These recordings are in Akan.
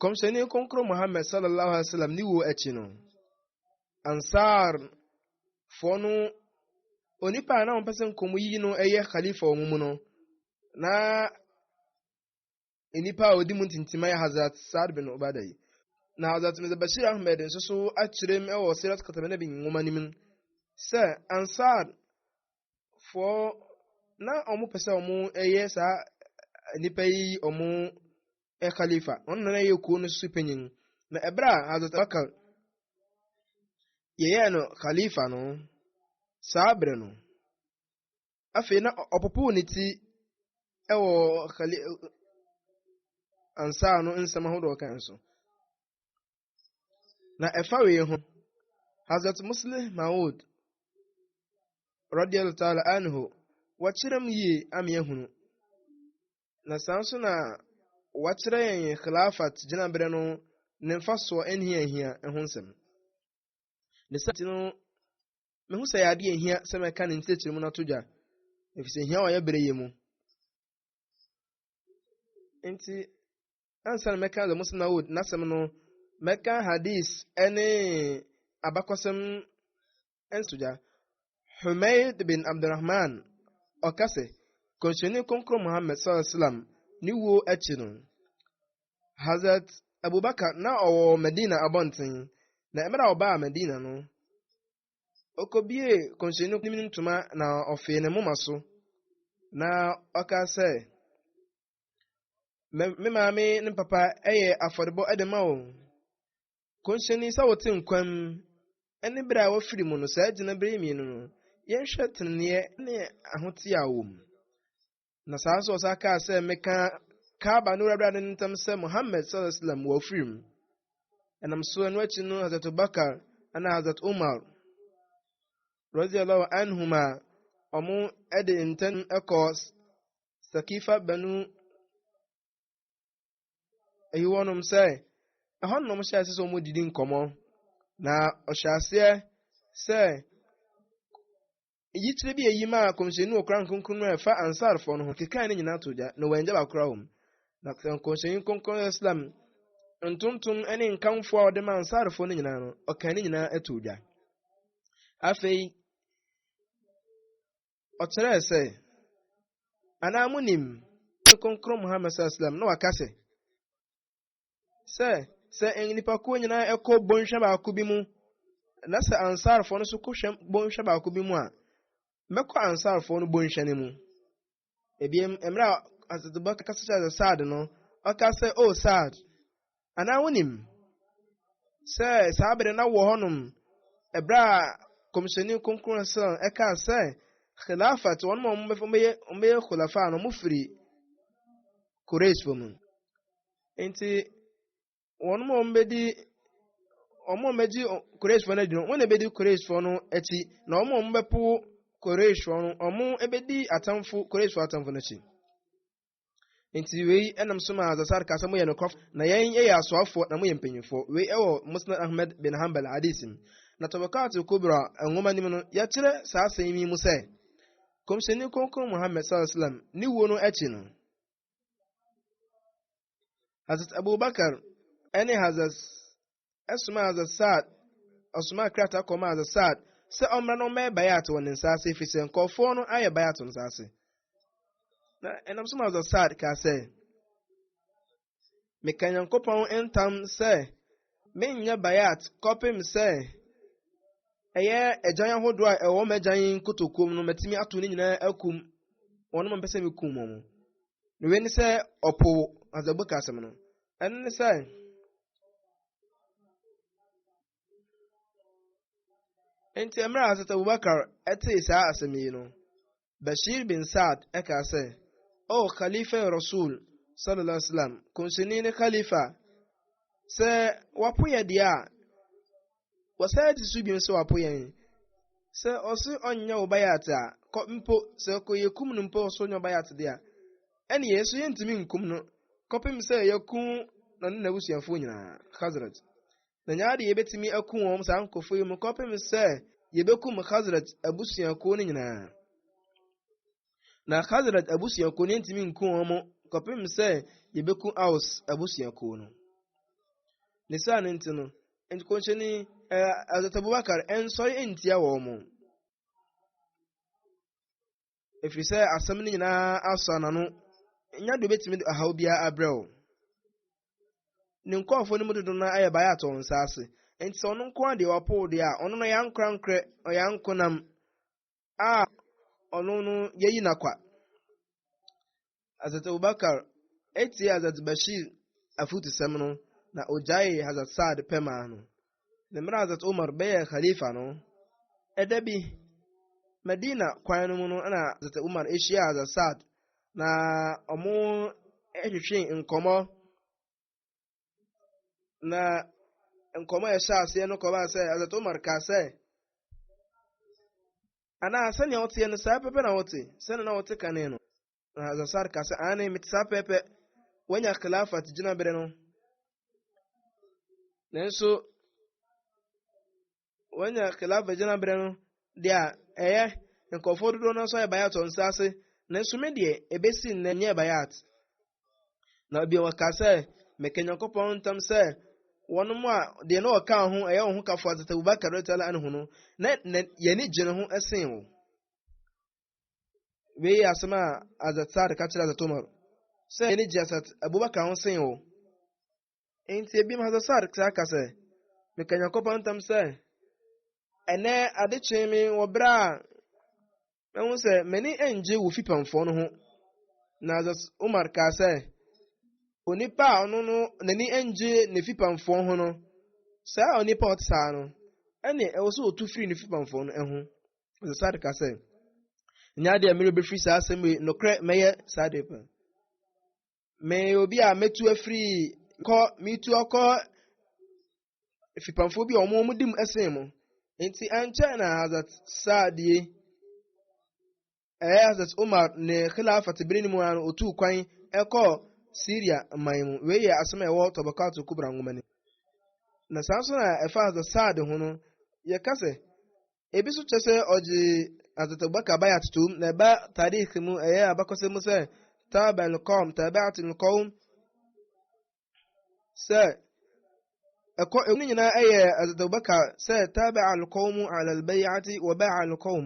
Kɔmhyɛni Kronkron Muhammad sallallahu alaihi wasallam ne wuo akyi no, Ansar foɔ no onipa a na wɔpɛ sɛ nkɔmmu yi no yɛ khalifa wɔn mu no na nnipa a ɔdi mu ntintima yɛ Hazrat Saad bin Ubada yi na Hazrat Mirza Bashir Ahmed nso so akyerɛ mu wɔ Sirat Katamina bi nwoma no mu sɛ Ansar foɔ na wɔpɛ sɛ wɔyɛ saa nnipa yi wɔn yɛ khalifa, ɔno na na yɛ kuo no so panyin. Na ɛberɛ a Hazrat Bakar yɛyɛɛ no khalifa no, saa berɛ no, afei na ɔpopo ne ti wɔ khali ansa no nsɛm ahodoɔ kan so. Na ɛfa wei ho, Hazrat Muslim Maud, radiallahu ta'ala anhu, wɔkyerɛ mu yie ama yɛahunu. na saa nso na wɔakyerɛ yɛn Khilafat gyinaberɛ no ne mfasoɔ ɛne hia hia ho nsɛm. Ne saa nti no, mehu sɛ yɛ adeɛ hia sɛ mɛka ne nkyerɛkyerɛ mu no ato dwa, ɛfiri sɛ hia wɔyɛ berɛ yɛ mu. Nti, ansa na mɛka The Muslim Awood n'asɛm no, mɛka hadis ɛne abakɔsɛm nsogya. Humayd bin Abdurrahman ɔka sɛ, Kɔmhyɛni Kronkron Muhammad sallallahu alaihi wasallam ne wuo akyi no, Hazrat Abubakar na ɔwɔ Medina abɔnten, na mmerɛ a ɔbaa Medina no, ɔkɔbie kɔmhyɛni no ne ntoma na ɔfee ne moma so, na ɔka sɛ, me maame ne papa yɛ afɔrebɔ de ma wɔn. Nkɔnhyɛni, sɛ wote nkwa mu, ɛne bere a wofiri mu no, saa gyinabere yi mmienu no, yɛnhwɛ teneneɛ ne ahoteɛ a wɔwɔ mu. Na saa nso ɔsa kaa sɛ, meka Kaaba ne Wurade no ntam sɛ Muhammad sallallahu alaihi wasallam wɔafiri mu. Ɛnam so ɛno akyi no Hazrat Abubakar ɛna Hazrat Umar radiyallahu anhuma wɔn de ntɛm kɔ Sakifa Banu ayi wɔnom sɛ ɛhɔ nom hyɛ ase sɛ wɔdidi nkɔmmɔ na ɔhyɛ aseɛ sɛ yikyerɛ bi ayi maa kɔmhyɛni wɔ koran kronkron no a ɛfa ansarfoɔ no ho kekaa ne nyinaa to gya na wɔangya bakora wɔ mu na kɔmhyɛni kronkron islam ntontom ne nkamfoɔ a ɔde ma ansarfoɔ no nyinaa no ɔkaa ne nyinaa to gya afei ɔkyerɛɛ sɛ anaa munim ne kronkron muhammad sallallahu alaihi wasallam na waka sɛ sɛ sɛ nnipakuo nyinaa ɛkɔ bɔnhwa baako bi mu na sɛ ansarfoɔ no so kɔhwɛ bɔnhwa baako bi mu a mɛkɔ ansarfoɔ no bɔnhwa no mu ebiem mmerɛ a asatubɔ kasa kyerɛ sɛ saad no ɔka sɛ o oh, saad Anaa wonim sɛ saa bere na wɔ hɔnom ɛberɛ a kɔmhyɛni kronkron sɛ ɛkaa sɛ khilafat wɔn ma wɔbɛyɛ wɔbɛyɛ khulafa no wɔfiri Quraysh fo mu nti wɔn ma wɔbɛdi wɔn ma wɔbɛgye Quraysh fo no adi no wɔn na ɛbɛdi Quraysh fo no akyi na wɔn ma wɔbɛpo Quraysh fo no wɔn ɛbɛdi atamfo Quraysh fo atamfo no akyi. Nti wei nam so ma Zasar ka sɛ moyɛ nokwafo, na yɛn yɛ asoafoɔ na moyɛ mpanyimfoɔ. Wei wɔ Musnad Ahmed bin Hanbal hadis mu. Na Tabaqat al-Kubra nwoma no mu no, yɛkyerɛ saa asɛm yi mu sɛ, Kɔmhyɛni Kronkron Muhammad sallallahu alaihi wasallam ne wuo no akyi no, Hazrat Abubakar ne Hazrat ɛsomaa Azasad, ɔsomaa krataa kɔmaa Azasad sɛ ɔmmra na ɔmmɛyɛ bayat wɔ ne nsa ase ɛfiri sɛ nkɔɔfoɔ no ayɛ bayat wɔ ne nsa ase. Na ɛnam so ma Azasad kaa sɛ, meka Nyankopɔn ntam sɛ menyɛ bayat kɔpem sɛ ɛyɛ agyan ahodoɔ a ɛwɔ m'agyan nkotokuom no matumi ato ne nyinaa akum wɔn a mpɛ sɛ mekum wɔn. Na wei ne sɛ ɔpo Azabuk asɛm no. ɛno ne sɛ nti mmerɛ a sɛ abubakar tee saa asɛm yi no bashir bin saad ɛkaa sɛ o oh, khalifa rasul sallallahu alaihi wasallam kɔnhyɛni ne khalifa sɛ wapo yɛ deɛ a Wɔsan ti so bio sɛ wapo yɛn. Sɛ ɔse ɔnyɛ wo bayat a, kɔ mpo, sɛ ɔkɔ yɛkum no mpo ɔse ɔnyɛ wo bayat de a, ɛne yɛn nso yɛntumi nkum no kɔpem sɛ yɛaku no ne n'abusuafoɔ nyinaa, Khazraj. Na nyɛ ade yɛbɛtumi aku wɔn saa nkurɔfoɔ yi mu kɔpem sɛ yɛbɛkum Khazraj abusuakuo no nyinaa. Na Khazraj abusuakuo no yɛntumi nku wɔn mo kɔpem sɛ yɛbɛku Aus abusuakuo no. Ne saa no nti no, nti kɔnhyɛni ɛɛ Azat Abubakar ɛnsɔre ntia wɔn mo. Ɛfiri sɛ asɛm no nyinaa asɔ n'ano, nya de obɛtumi de ɔhaw biara abrɛ wo. Ne nkɔɔfoɔ no mu dodo no ayɛ baeɛ atɔ nsa ase. Nti sɛ ɔno nko adeɛ ɔpoo deɛ a, ɔno no ɔyɛ ankorankorɛ, ɔyɛ ankonam. a ɔno no yɛyi n'akwa Hazrat Abubakar etie Hazrat Bashir afutusɛm no na ogyaee Hazrat Saad pɛmaa no ne mmerɛ Hazrat Umar bɛyɛ khalifa no ɛda bi Medina kwan no mu no na Hazrat Umar ehyia Hazrat Saad na wɔn hwehwee nkɔmɔ na nkɔmɔ a ɛhyɛ aseɛ no kɔba sɛ azat omar kaa sɛ anaa sɛnea woteɛ no saa pɛpɛ na wote sɛnea na wote kane no na azasar ka sɛ ane mete saa pɛpɛ wanya khilafat gyina bere no nanso wɔanya khilafa gyinaberɛ no deɛ a ɛyɛ nkurɔfoɔ dodoɔ no nso ayɛ bayat wɔn nsa ase nanso me deɛ ɛbɛsi nnɛ nyɛ bayat na bio wɔka sɛ meka nyankopɔn ntam sɛ wɔn mu a deɛ na wɔka ho ɛyɛ wɔn ho kafoɔ atete abubakar rɛtala anhu no na yɛne gyene ho ɛsen wo wei asɛm a azat saad ka kyerɛ azat umar sɛ yɛne gye asat abubakar ho sen wo Enti ebinom hasasar saa ka sɛ, Meka Nyankopɔn ntam sɛ, ɛnɛ ade kyee me wɔ bere a mahu sɛ m'ani ngye wo fipamfoɔ no ho. Na Hazrat Umar kaa sɛ, onipa a ɔno no n'ani ngye ne fipamfoɔ ho no, saa onipa a ɔte saa no, ɛne ɛwɔ sɛ ɔtu firi ne fipamfoɔ no ho. Hazrat Saad kaa sɛ, nyɛ adeɛ a mmerɛ bɛfiri saa asɛm yi nokorɛ mɛyɛ saa adeɛ pa. meyɛ obi a metu afiri kɔ metu akɔ fipamfoɔ bi a wɔn wɔn di mu ɛsen mu nti ɛnkyɛ na hazat saadie ɛyɛ hazat umar ne khilafat bere no mu ano otu kwan ɛkɔ syria man mu wei yɛ asɛm a ɛwɔ tɔbɔkato kubra nwoma no na saa nso na ɛfa hazat saad ho no yɛka sɛ Ebi nso kyerɛ sɛ ɔgye Hazrat Bakar bae atotom na ɛba tarikh mu ɛyɛ abakɔsɛm mu sɛ taabɛn kɔm taabɛat nkɔm sɛ ɛkɔ ɛmu no nyinaa ɛyɛ Hazrat Bakar sɛ taabɛ alkɔm alalbɛyati wɔbɛ alkɔm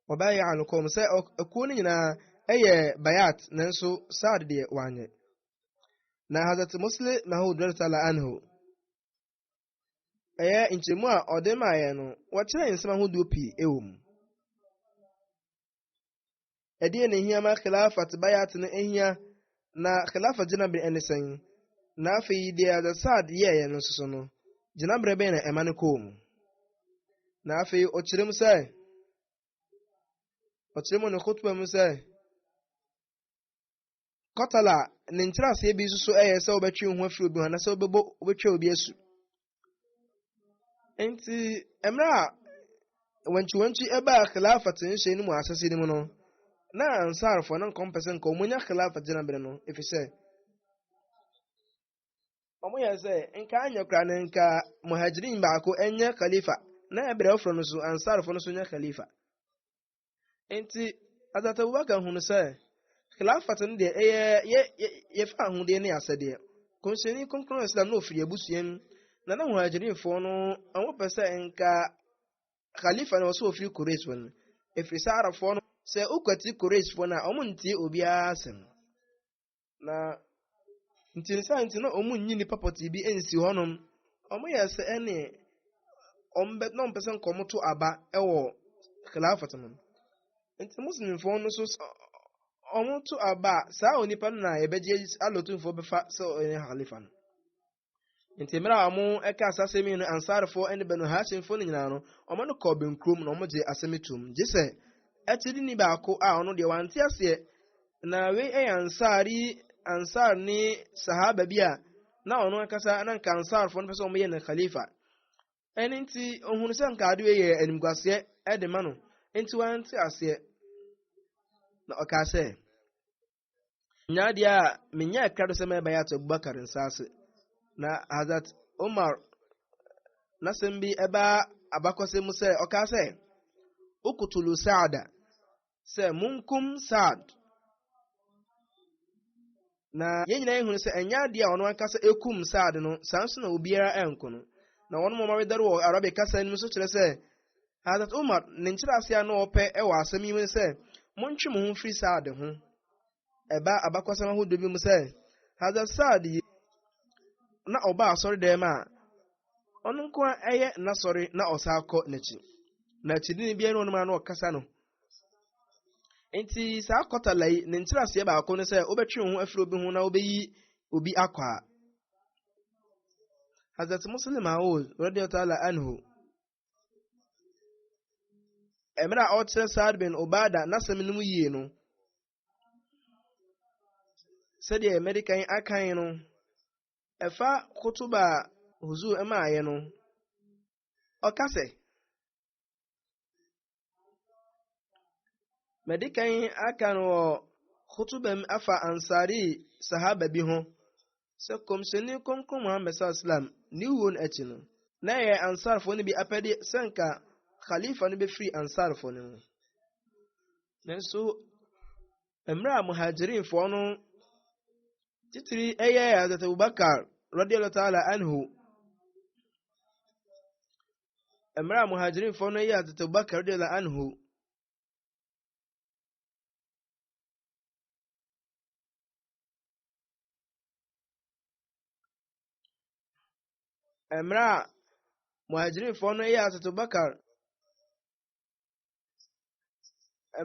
wɔbɛ alkɔm sɛ ɛkuo no nyinaa ɛyɛ bayat nanso saad deɛ wanyɛ na Hazrat Muslim Maud radiyallahu anhu ɛyɛ nkyerɛmu a ɔde maa yɛn no, wɔkyerɛɛ nsɛm ahodoɔ pii wɔ mu. Ɛdeɛ na ɛhia ma khilafat bayat no ɛhia na khilafat gyinaberɛ ɛne sɛn? Na afei deɛ Al Saad yɛeɛ no nso so no, gyinaberɛ bɛn na ɛma no kɔɔ mu? Na afei ɔkyerɛ mu sɛ, ɔkyerɛ mu ne khutbah mu sɛ, Qatala ne nkyerɛaseɛ bi nso yɛ sɛ wobɛtwe wo ho afiri obi ho anasɛ wobɛbɔ wobɛtwa obi asu nti mmerɛ a wankyiwankyi ɛbaa khilafat nhyɛ no mu asase no mu no na ansarfoɔ no nkɔmpɛ sɛ nka wɔnya khilafat gyina bere no ɛfiri sɛ wɔyɛ sɛ nka anyɛ koraa no nka muhajirin baako ɛnyɛ khalifa na ɛberɛ foforɔ no so ansarfoɔ no so nyɛ khalifa Nti Hazrat Abubakar hunu sɛ Khilafat no deɛ ɛyɛ yɛ yɛfa ahodeɛ ne asɛdeɛ. Kɔnhyɛni Kronkron Islam na ɔfiri abusua mu na na Muhajirinfoɔ no wɔn pɛ sɛ nka Khalifa no wɔ sɛ ɔfiri Quraysh wɔn mu. Ɛfiri sɛ Arabfoɔ no sɛ wokwati Qurayshfoɔ no a wɔntie obiara asɛm. na nti ne saa nti na wɔn nyi nipa pɔtee bi nsi hɔnom wɔn yɛ sɛ ɛne wɔn bɛ na wɔn pɛ sɛ nka wɔn to aba wɔ khilafat mu nti muslimfoɔ no so wɔn to aba saa onipa no na yɛbɛgye alɔtumfoɔ bɛfa sɛ ɔyɛ khalifa no. nti mmerɛ a wɔka saa asɛm yi no ansarfoɔ ne banu hashimfoɔ no nyinaa no wɔn no kɔɔ bɛnkurom na wɔgye asɛm tom gye sɛ akyidini baako a ɔno deɛ wante aseɛ na wei yɛ ansari ansar ne sahaba bi a na ɔno ankasa na nka ansarfoɔ no pɛ sɛ wɔyɛ no khalifa ɛne nti ɔhunu sɛ nka adeɛ yɛ animguaseɛ ɛde ma no nti wante aseɛ na ɔkaa sɛ nya adeɛ a menya ɛka do sɛ mɛbɛyɛ ato abubakar nsa ase na hazat omar n'asɛm bi ɛbaa abakɔsɛ mu sɛ ɔkaa sɛ ukutulu saada sɛ munkum saad na yɛn nyinaa ehunu sɛ ɛnyɛ adeɛ a ɔno ankasa ekum saad no saa nso na obiara ɛnko no na wɔn mɔmɔ wedɛre wɔ arabic kasa no mu nso kyerɛ sɛ Hazrat Umar ne nkyerɛase a na ɔpɛ wɔ asɛm yi mu ne sɛ, Montwe mo ho mfiri saa ade ho. Ɛba abakɔsɛm ahodoɔ bi mu sɛ, Hazrat Saad yi na ɔba asɔredɛm a ɔno nko a ɛyɛ n'asɔre na ɔsan kɔ n'akyi. Na akyidini biara ne ɔnom a na ɔkasa no. Enti saa kɔtala yi ne nkyerɛaseɛ baako ne sɛ wobɛtwe wo ho afiri obi ho na wobɛyi obi akɔ a. Hazrat Muslim Aoud, radiyallahu ta'ala anhu, mmerɛ a ɔkyerɛ Saad bin Obada n'asɛm no mu yie no sɛdeɛ mɛde kan akan no ɛfa kotoba a Huzur ɛmaeɛ no ɔka sɛ Madi kan aka no wɔ khutuba mu afa Ansari sahaba bi ho sɛ Kɔmhyɛni Kronkron Muhammad sallam ne wuo no akyi no, na ɛyɛ Ansarfoɔ no bi apɛdeɛ sɛ nka Khalifa no bɛfiri Ansarfoɔ no mu. Nanso, mmerɛ a Muhajirinfoɔ no titiri ɛyɛ Hazrat Abubakar radiyallahu ta'ala anhu mmerɛ a muhajirinfoɔ no yɛ tete bakar de la anhu mmerɛ a muhajirinfoɔ no yɛ tete bakar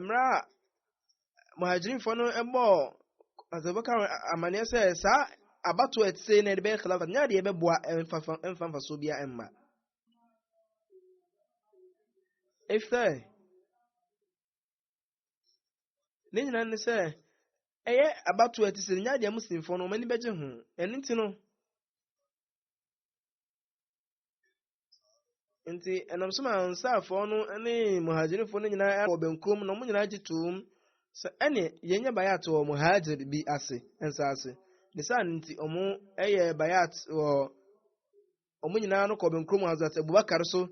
mmerɛ a muhajirifoɔ no bɔɔ Abubakar amaneɛ sɛ saa abato a ɛte na ɛde bɛyɛ khilafa nyɛ adeɛ ɛbɛboa ɛmfa mfasoɔ bia ɛmma ɛfisɛ ne nyinaa ne sɛ ɛyɛ abato a ɛte sɛ nyɛ adeɛ muslimfoɔ no ɔmani bɛgye ho ɛno nti no nti ɛnam so ma ansaafɔɔ no ne muhajirifoɔ no nyinaa wɔ benkum na wɔn nyinaa gye toom sɛ ɛne yɛnyɛ bayat wɔ muhajir bi ase nsa ase ne saa no nti wɔn yɛ bayat wɔ wɔn nyinaa no kɔ benkum Hazrat Abubakar so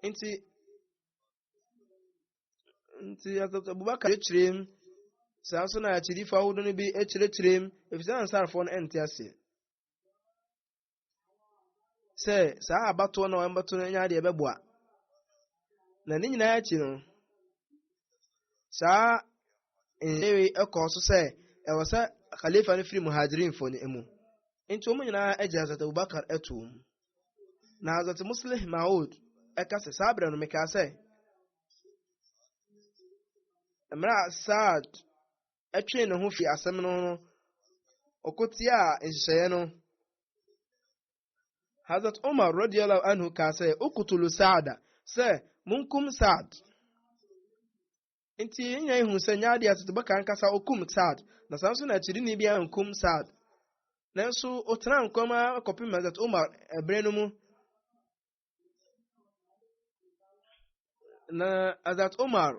nti nti Hazrat Abubakar kyerɛkyerɛm saa nso na akyidifo ahodoɔ no bi kyerɛkyerɛm efisɛ ansaafɔɔ no ɛnte aseɛ sɛ saa abatoɔ na wɔbɛto no nya deɛ ɛbɛboa na ne nyinaa akyi no saa nyewe ɛkɔɔ so sɛ ɛwɔ sɛ khalifa no firi muhajirinfo no mu nti wɔn nyinaa agye azat abubakar atom na azat muslih maud ɛka sɛ saa berɛ no mekaa sɛ mmerɛ a saad twee ne ho fi asɛm no ho no, ɔkotiaa nhyehyɛeɛ no. Hazrat Umar radiyallahu anhu kaa sɛ, Ukutulu Saada, sɛ munkum Saad. Nti yɛn nyinaa hu sɛ nyɛ adeɛ atetebɔ ka ankasa okum Saad, na saa nso na akyidini bi ankum Saad. Nanso ɔtena nkɔm ara kɔpem Hazrat Umar ɛberɛ no mu. na azat omar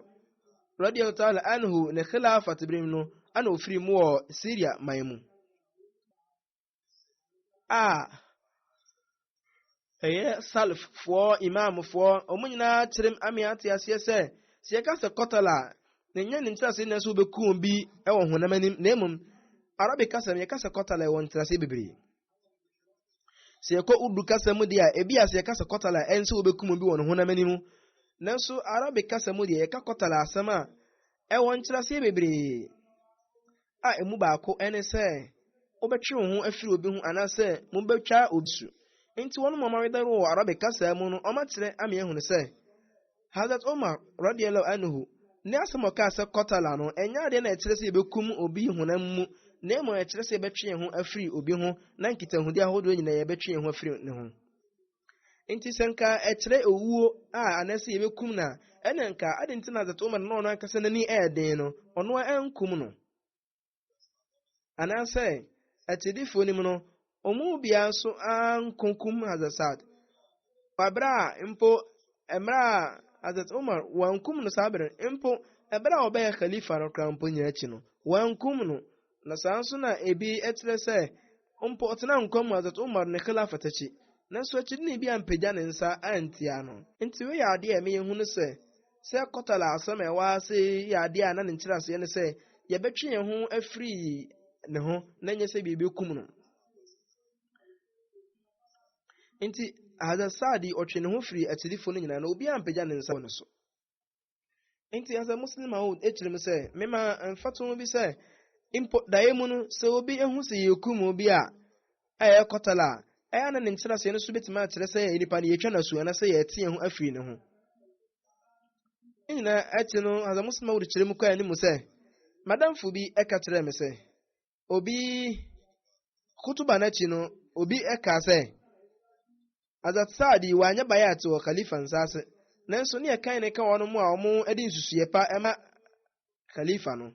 radiyallahu ta'ala anhu ne khilafat birim no ana ofiri mu wɔ syria man mu a ɛyɛ salaffoɔ imamfoɔ wɔn nyinaa kyerɛm ame ate aseɛ sɛ sɛ yɛka sɛ kɔtala a na ɛnyɛ ne nkyerɛase na ɛsɛ wobɛku wɔn bi wɔ honam anim na mmom arabic kasa no yɛka sɛ kɔtala ɛwɔ nkyerɛase bebree Sɛ yɛkɔ Urdu kasa mu deɛ a, ebi a sɛ yɛka sɛ kɔtala a, ɛnsɛ wɔbɛkum obi wɔ ne honam anim. Nanso Arabic kasa mu deɛ, yɛka kɔtala asɛm a, ɛwɔ nkyerɛaseɛ bebree. A emu baako ne sɛ, wobɛtwe wo ho afiri obi ho anaasɛ mobɛtwa obi su. Enti wɔn a wɔayɛ dawuro wɔ Arabic kasa mu no, wɔakyerɛ ama yɛahunu sɛ, Hazrat Umar, radiyallahu anhu, ne asɛm a ɔkaa sɛ qatala no, ɛnyɛ adeɛ na ɛkyerɛ sɛ yɛbɛkum obi honam mu, na mmom ɛkyerɛ sɛ yɛbɛtwe yɛn ho afiri obi ho, na nkitahodie ahodoɔ nyinaa yɛbɛtwe yɛn ho afiri ne ho. Nti sɛ nka ɛkyerɛ owuo a anaasɛ yɛbɛkum no a, ɛne nka adɛn nti na Hazrat Umar na ɔno ankasa n'ani ɛyɛ den no, ɔno ara ankum no? anaasɛ akyidifo no mu no wɔn mu biara nso ankokum hazasad wabere a mpo mmerɛ a hazrat umar wankum no saa bere mpo ɛberɛ a ɔbɛyɛ khalifa no koraa mpo nyɛ akyi no wankum no na saa nso na ebi kyerɛ sɛ Mpo ɔtenaa nkwa mu Hazrat Umar ne Khilafat akyi, nanso akyidini bi ampagya ne nsa antia no. Enti wei yɛ adeɛ a ɛma yɛhu no sɛ, sɛ Qatala asɛm a ɛwɔ ha ase yi yɛ adeɛ a na ne nkyerɛaseɛ ne sɛ yɛbɛtwe yɛn ho afiri ne ho na ɛnyɛ sɛ yɛbɛkum no. Enti Hazrat Saadi ɔtwe ne ho firi akyidifo no nyinaa na obiara ampagya ne nsa wɔ ne so. Enti ansa Muslim Maud kyerɛ mu sɛ, mema mfatoho bi sɛ, mpo daeɛ mu no, sɛ obi hu sɛ yɛrekum obi a, a ɛyɛ kɔtal a, ɛyɛ na ne nkyerɛaseɛ no so bɛtumi akyerɛ sɛ nnipa no yɛtwa no asu anaasɛ yɛte yɛn ho afiri ne ho. Ne nyinaa akyi no, ansa Muslim Maud kyerɛ mu kɔɛ ne mu sɛ, madamfo bi ɛka kyerɛɛ me sɛ, obi kutuba no akyi no obi kaa sɛ azat saadi wanyɛ bayat wɔ khalifa nsaase nanso ne ɛkan ne ka wɔn a wɔn de nsusuiɛ pa ma khalifa no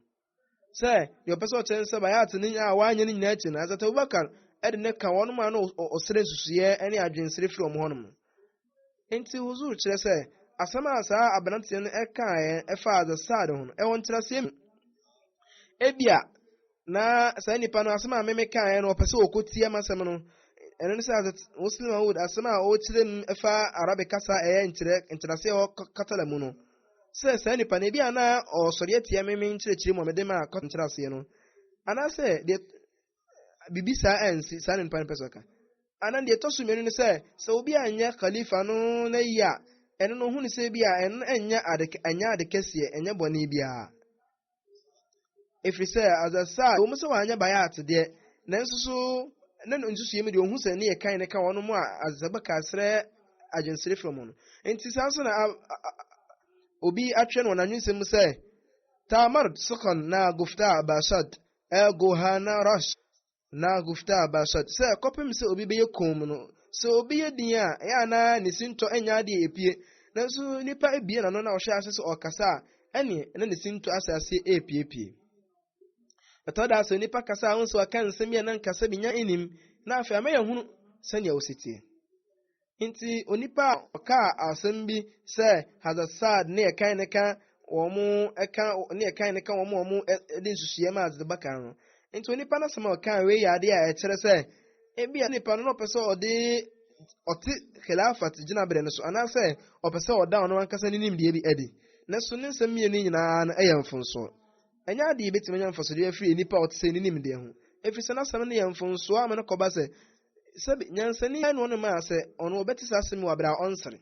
sɛ deɛ ɔpɛ sɛ ɔkyerɛ no sɛ bayat no a wanyɛ no nyinaa akyi no azat abubakar de ne ka wɔn a na ɔsrɛ nsusuiɛ ne adwensere firi wɔn hɔnom Enti Huzur kyerɛ sɛ asɛm a saa aberanteɛ no kaeɛ faa Hazrat Sa'd ho no, ɛwɔ nkyerɛaseɛ mmienu. Ebia na saa nipa no asɛm a me mekaeɛ no ɔpɛ sɛ ɔkɔtia m'asɛm no, ɛno ne sɛ Hazrat Muslim Maud asɛm a ɔkyerɛ mu fa Arabic kasa a ɛyɛ nkyerɛ nkyerɛaseɛ wɔ Katala mu no, sɛ saa nipa no ebia na ɔsɔre atia me me nkyerɛkyerɛ mu a mede maa nkyerɛaseɛ no, anaasɛ deɛ biribi saa ansi saa na nipa no pɛ sɛ ɔka anan deɛ ɛtɔ so mmienu no sɛ sɛ obi anyɛ khalifa no na yi a ɛno no hu ne sɛ bi a ɛno ɛnyɛ ade ɛnyɛ ade kɛseɛ ɛnyɛ bɔne biara ɛfiri sɛ azasa a wɔn sɛ wɔanyɛ bayɛ atedeɛ nanso so na no nsusuiɛ mu deɛ ɔhu sɛ ne yɛ kan ne ka wɔn mu a azasa bɛka serɛ adwensere firi mu no nti saa nso na obi atwerɛ no wɔn anwensɛm mu sɛ tamard sokon na gofta basad Ergo hana ras na gufta basad, sɛ kɔpem sɛ obi bɛyɛ komm no, sɛ obi yɛ din a, ɛyɛ a na ne sintɔ nyɛ adeɛ a ɛpue, nanso nipa abue n'ano na ɔhyɛ ase sɛ ɔrekasa a, ɛneɛ na ne sintɔ ahyɛ aseɛ repuepue. Ɛtɔ da sɛ nipa kasa a, wohu sɛ waka nsɛm bi a na nkasa bi nya nnim, na afei ama yɛahunu sɛdeɛ ɔsi teɛ. Enti onipa a ɔkaa asɛm bi sɛ Hadasad ne ɛkan ne ka wɔn ɛka ne ɛkan ne ka wɔn a wɔn de nsusuiɛ ma adze ba kan no. Enti onipa n'asɛm a ɔkaa wei yɛ adeɛ a ɛkyerɛ sɛ ebi a nipa no na ɔpɛ sɛ ɔde ɔte khilafat gyinaberɛ no so anaasɛ ɔpɛ sɛ ɔda ɔno ankasa ne nimdeɛ bi adi. Nanso ne nsɛm mmienu nyinaa no yɛ mfonsoɔ. Ɛnyɛ adeɛ yɛbɛtumi anya mfasodeɛ afiri nipa a ɔte sɛ ne nimdeɛ ho, ɛfiri sɛ n'asɛm no yɛ mfonsoɔ ama no kɔba sɛ Sɛbe, nyansani ara na ɔne maa sɛ ɔno ɔbɛte saa asɛm wɔ abere a ɔnsere.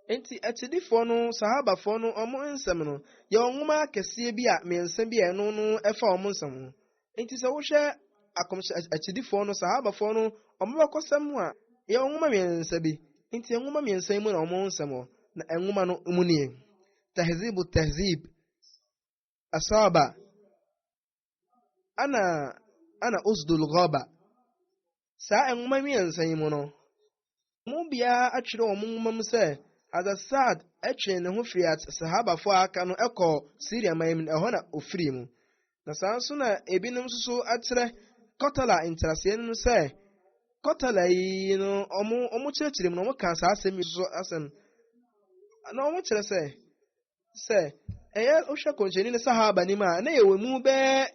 Enti akyidifoɔ no, sahabafoɔ no, ɔmo nsɛm no, yɛ ɔnwoma akɛseɛ bi a mmiɛnsa bi a ɛno no ɛfa ɔmo nsɛm ho. Enti sɛ wohwɛ akɔmhyɛ akyidifoɔ no, sahabafoɔ no, ɔmo bɛkɔsɛm ho a, yɛ ɔnwoma mmiɛnsa bi. Enti ɛnwoma mmiɛnsa yi mu na ɔmo nsɛm wɔ, na ɛnwoma no mu nie. Tahzibu Tahzib. asaba ana ana usdul ghaba saa nwoma mmiɛnsa yi mu no mu biara atwerɛ wɔn nwoma mu sɛ hadha saad ɛtwee ne ho firi sahabafo a aka no ɛkɔ syria man mu ɛhɔ na ofiri mu na saa nso na ebinom nso so akyerɛ kɔtala nkyerɛaseɛ no sɛ kɔtala yi no wɔn wɔn kyerɛkyerɛ mu na wɔka saa asɛm yi nso asɛm na wɔn kyerɛ sɛ sɛ ɛyɛ wohwɛ kɔnhyɛni ne sahaba nim a na yɛwɔ mu bɛɛ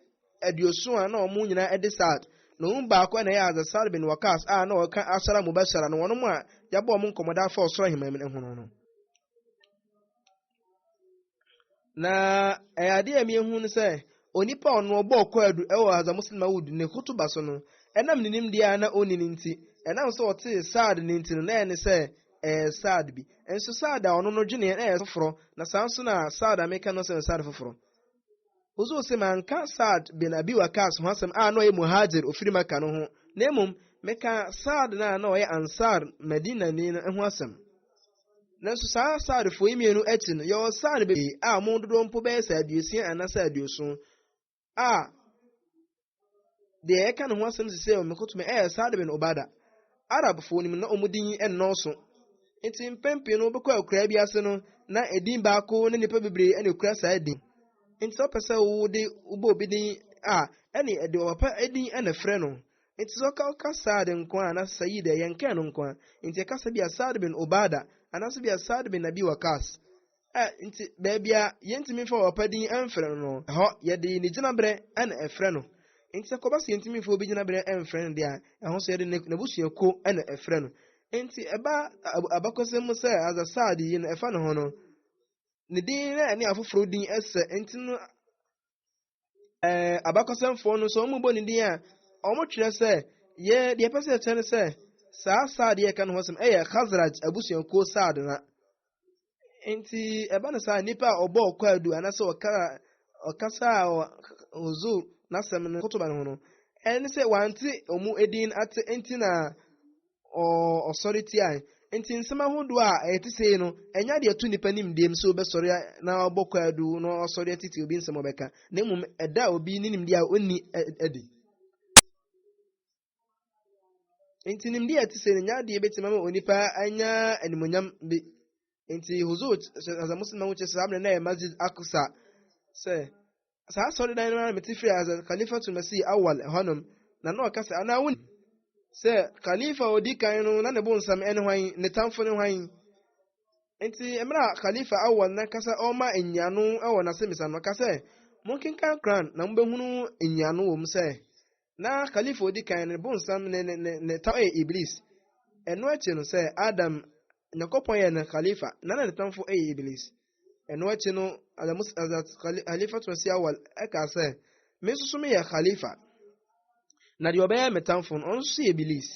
aduoson a na wɔn nyinaa de saad na wɔn baako na ɛyɛ adze saad bin wakas a na ɔka asara mubashara no wɔn mu a yɛabɔ wɔn nkɔmmɔda afa ɔsoro ahemman mu ho no na ɛyɛ adeɛ a mmienu no sɛ onipa a ɔno ɔbɔ ɔkɔ adu ɛwɔ hadza muslim awud ne kutuba so no ɛnam ne nimdeɛ a na ɔnni ne nti ɛnam sɛ ɔte saad ne nti no na ɛne sɛ ɛɛ Saad bi. Nso Saad a ɔno no dweneɛ no ɛɛ foforɔ, na saa nso na Saad a meka no sɛ no Saad foforɔ. Ɔsɛ ɔse manka Saad bin Abi Waqaas ho asɛm a na ɔyɛ Muhaajir ɔfiri Maka no ho, na mmom meka Saad no a na ɔyɛ Ansaar, Madinani, no ho asɛm. Nanso saa Saadfoɔ yi mmienu akyi no, yɛwɔ Saad bebree a wɔn dodoɔ mpo bɛyɛ sɛ aduosia anaa sɛ aduoson. a deɛ ɛka ne ho asɛm sisi a wɔkɔtumi ɛyɛ Saad bin Obada. Arabfoɔ no mu na wɔn din nnɔɔso. Nti mpɛn pii no wobɛkɔ akuraa bi ase no na edin baako ne nnipa bebree na ekura saa din. Nti sɛ wopɛ sɛ wode wobɔ obi din a ɛne ɛde ɔpapa edin na frɛ no. Nti sɛ ɔka ɔka Saad nko a anaasɛ Sayid ɛyɛ nkɛn no nko a. Nti ɛka sɛ bi a Saad bin Obada anaasɛ bi a Saad bin Abi Waqas. A Nti baabi a yɛntumi mfa ɔpapa din mfrɛ no no, ɛhɔ yɛde ne gyinaberɛ na ɛfrɛ no. Nti sɛ kɔba sɛ yɛntumi mfa obi gyinaberɛ mfrɛ no deɛ a, ɛho so yɛde n'abusuakuo na ɛfrɛ no. Nti ɛba abakɔsɛm mu sɛ Azasad yi no ɛfa ne ho no, ne din na ɛne afoforɔ din sɛ, nti no ɛɛ abakɔsɛmfoɔ no nso wɔn bɔ ne din a wɔn twerɛ sɛ yɛ deɛ pɛ sɛ ɛkyɛ no sɛ saa saad yɛ ka no ho asɛm ɛyɛ khazraj abusuakuo saad na nti ɛba no saa nipa a ɔbɔ ɔkɔ adu anaasɛ ɔka ɔkasa a ɔzo n'asɛm no kotoba no ho no ɛne sɛ wante wɔn edin ate nti na ɔsɔre tiae. Nti nsɛm ahodoɔ a ɛyɛ te sei no, ɛnyɛ adeɛ ɛto nnipa nimdeɛm sɛ wobɛsɔre na ɔbɔ kwaadu na ɔsɔre atete obi nsɛm ɔbɛka, na mmom ɛda obi ne nimdeɛ a ɔnni adi. Nti nimdeɛ ɛte sei no, ɛnyɛ adeɛ bɛtumi ama onipa anya animonyam bi. Nti Huzur, sɛ asɛ Muslim ahokyɛ sɛ saa mmerɛ na ɛyɛ Masjid Aqsa sɛ saa asɔredan no ara mete firi Hazrat Khalifatu Masih Awal hɔnom na na ɔka sɛ anaa wo sɛ Khalifa a ɔdi kan no na ne bo nsam ne hwan ne tamfo ne hwan nti mmerɛ a Khalifa Awal na kasa ɔma nyiano wɔ n'asɛmisa no ɔka sɛ monkenkan Quran na mobɛhunu nyiano wɔ mu sɛ na kalifa odi kan no bonsam ne ne ne ne tam yɛ iblis ɛno akyi no sɛ adam nyakopɔn yɛ no kalifa na na ne tamfo yɛ iblis ɛno akyi no adamus adat kalifa to si awal ɛka sɛ me nso so meyɛ kalifa na deɛ ɔbɛyɛ me tamfo no ɔno nso yɛ iblis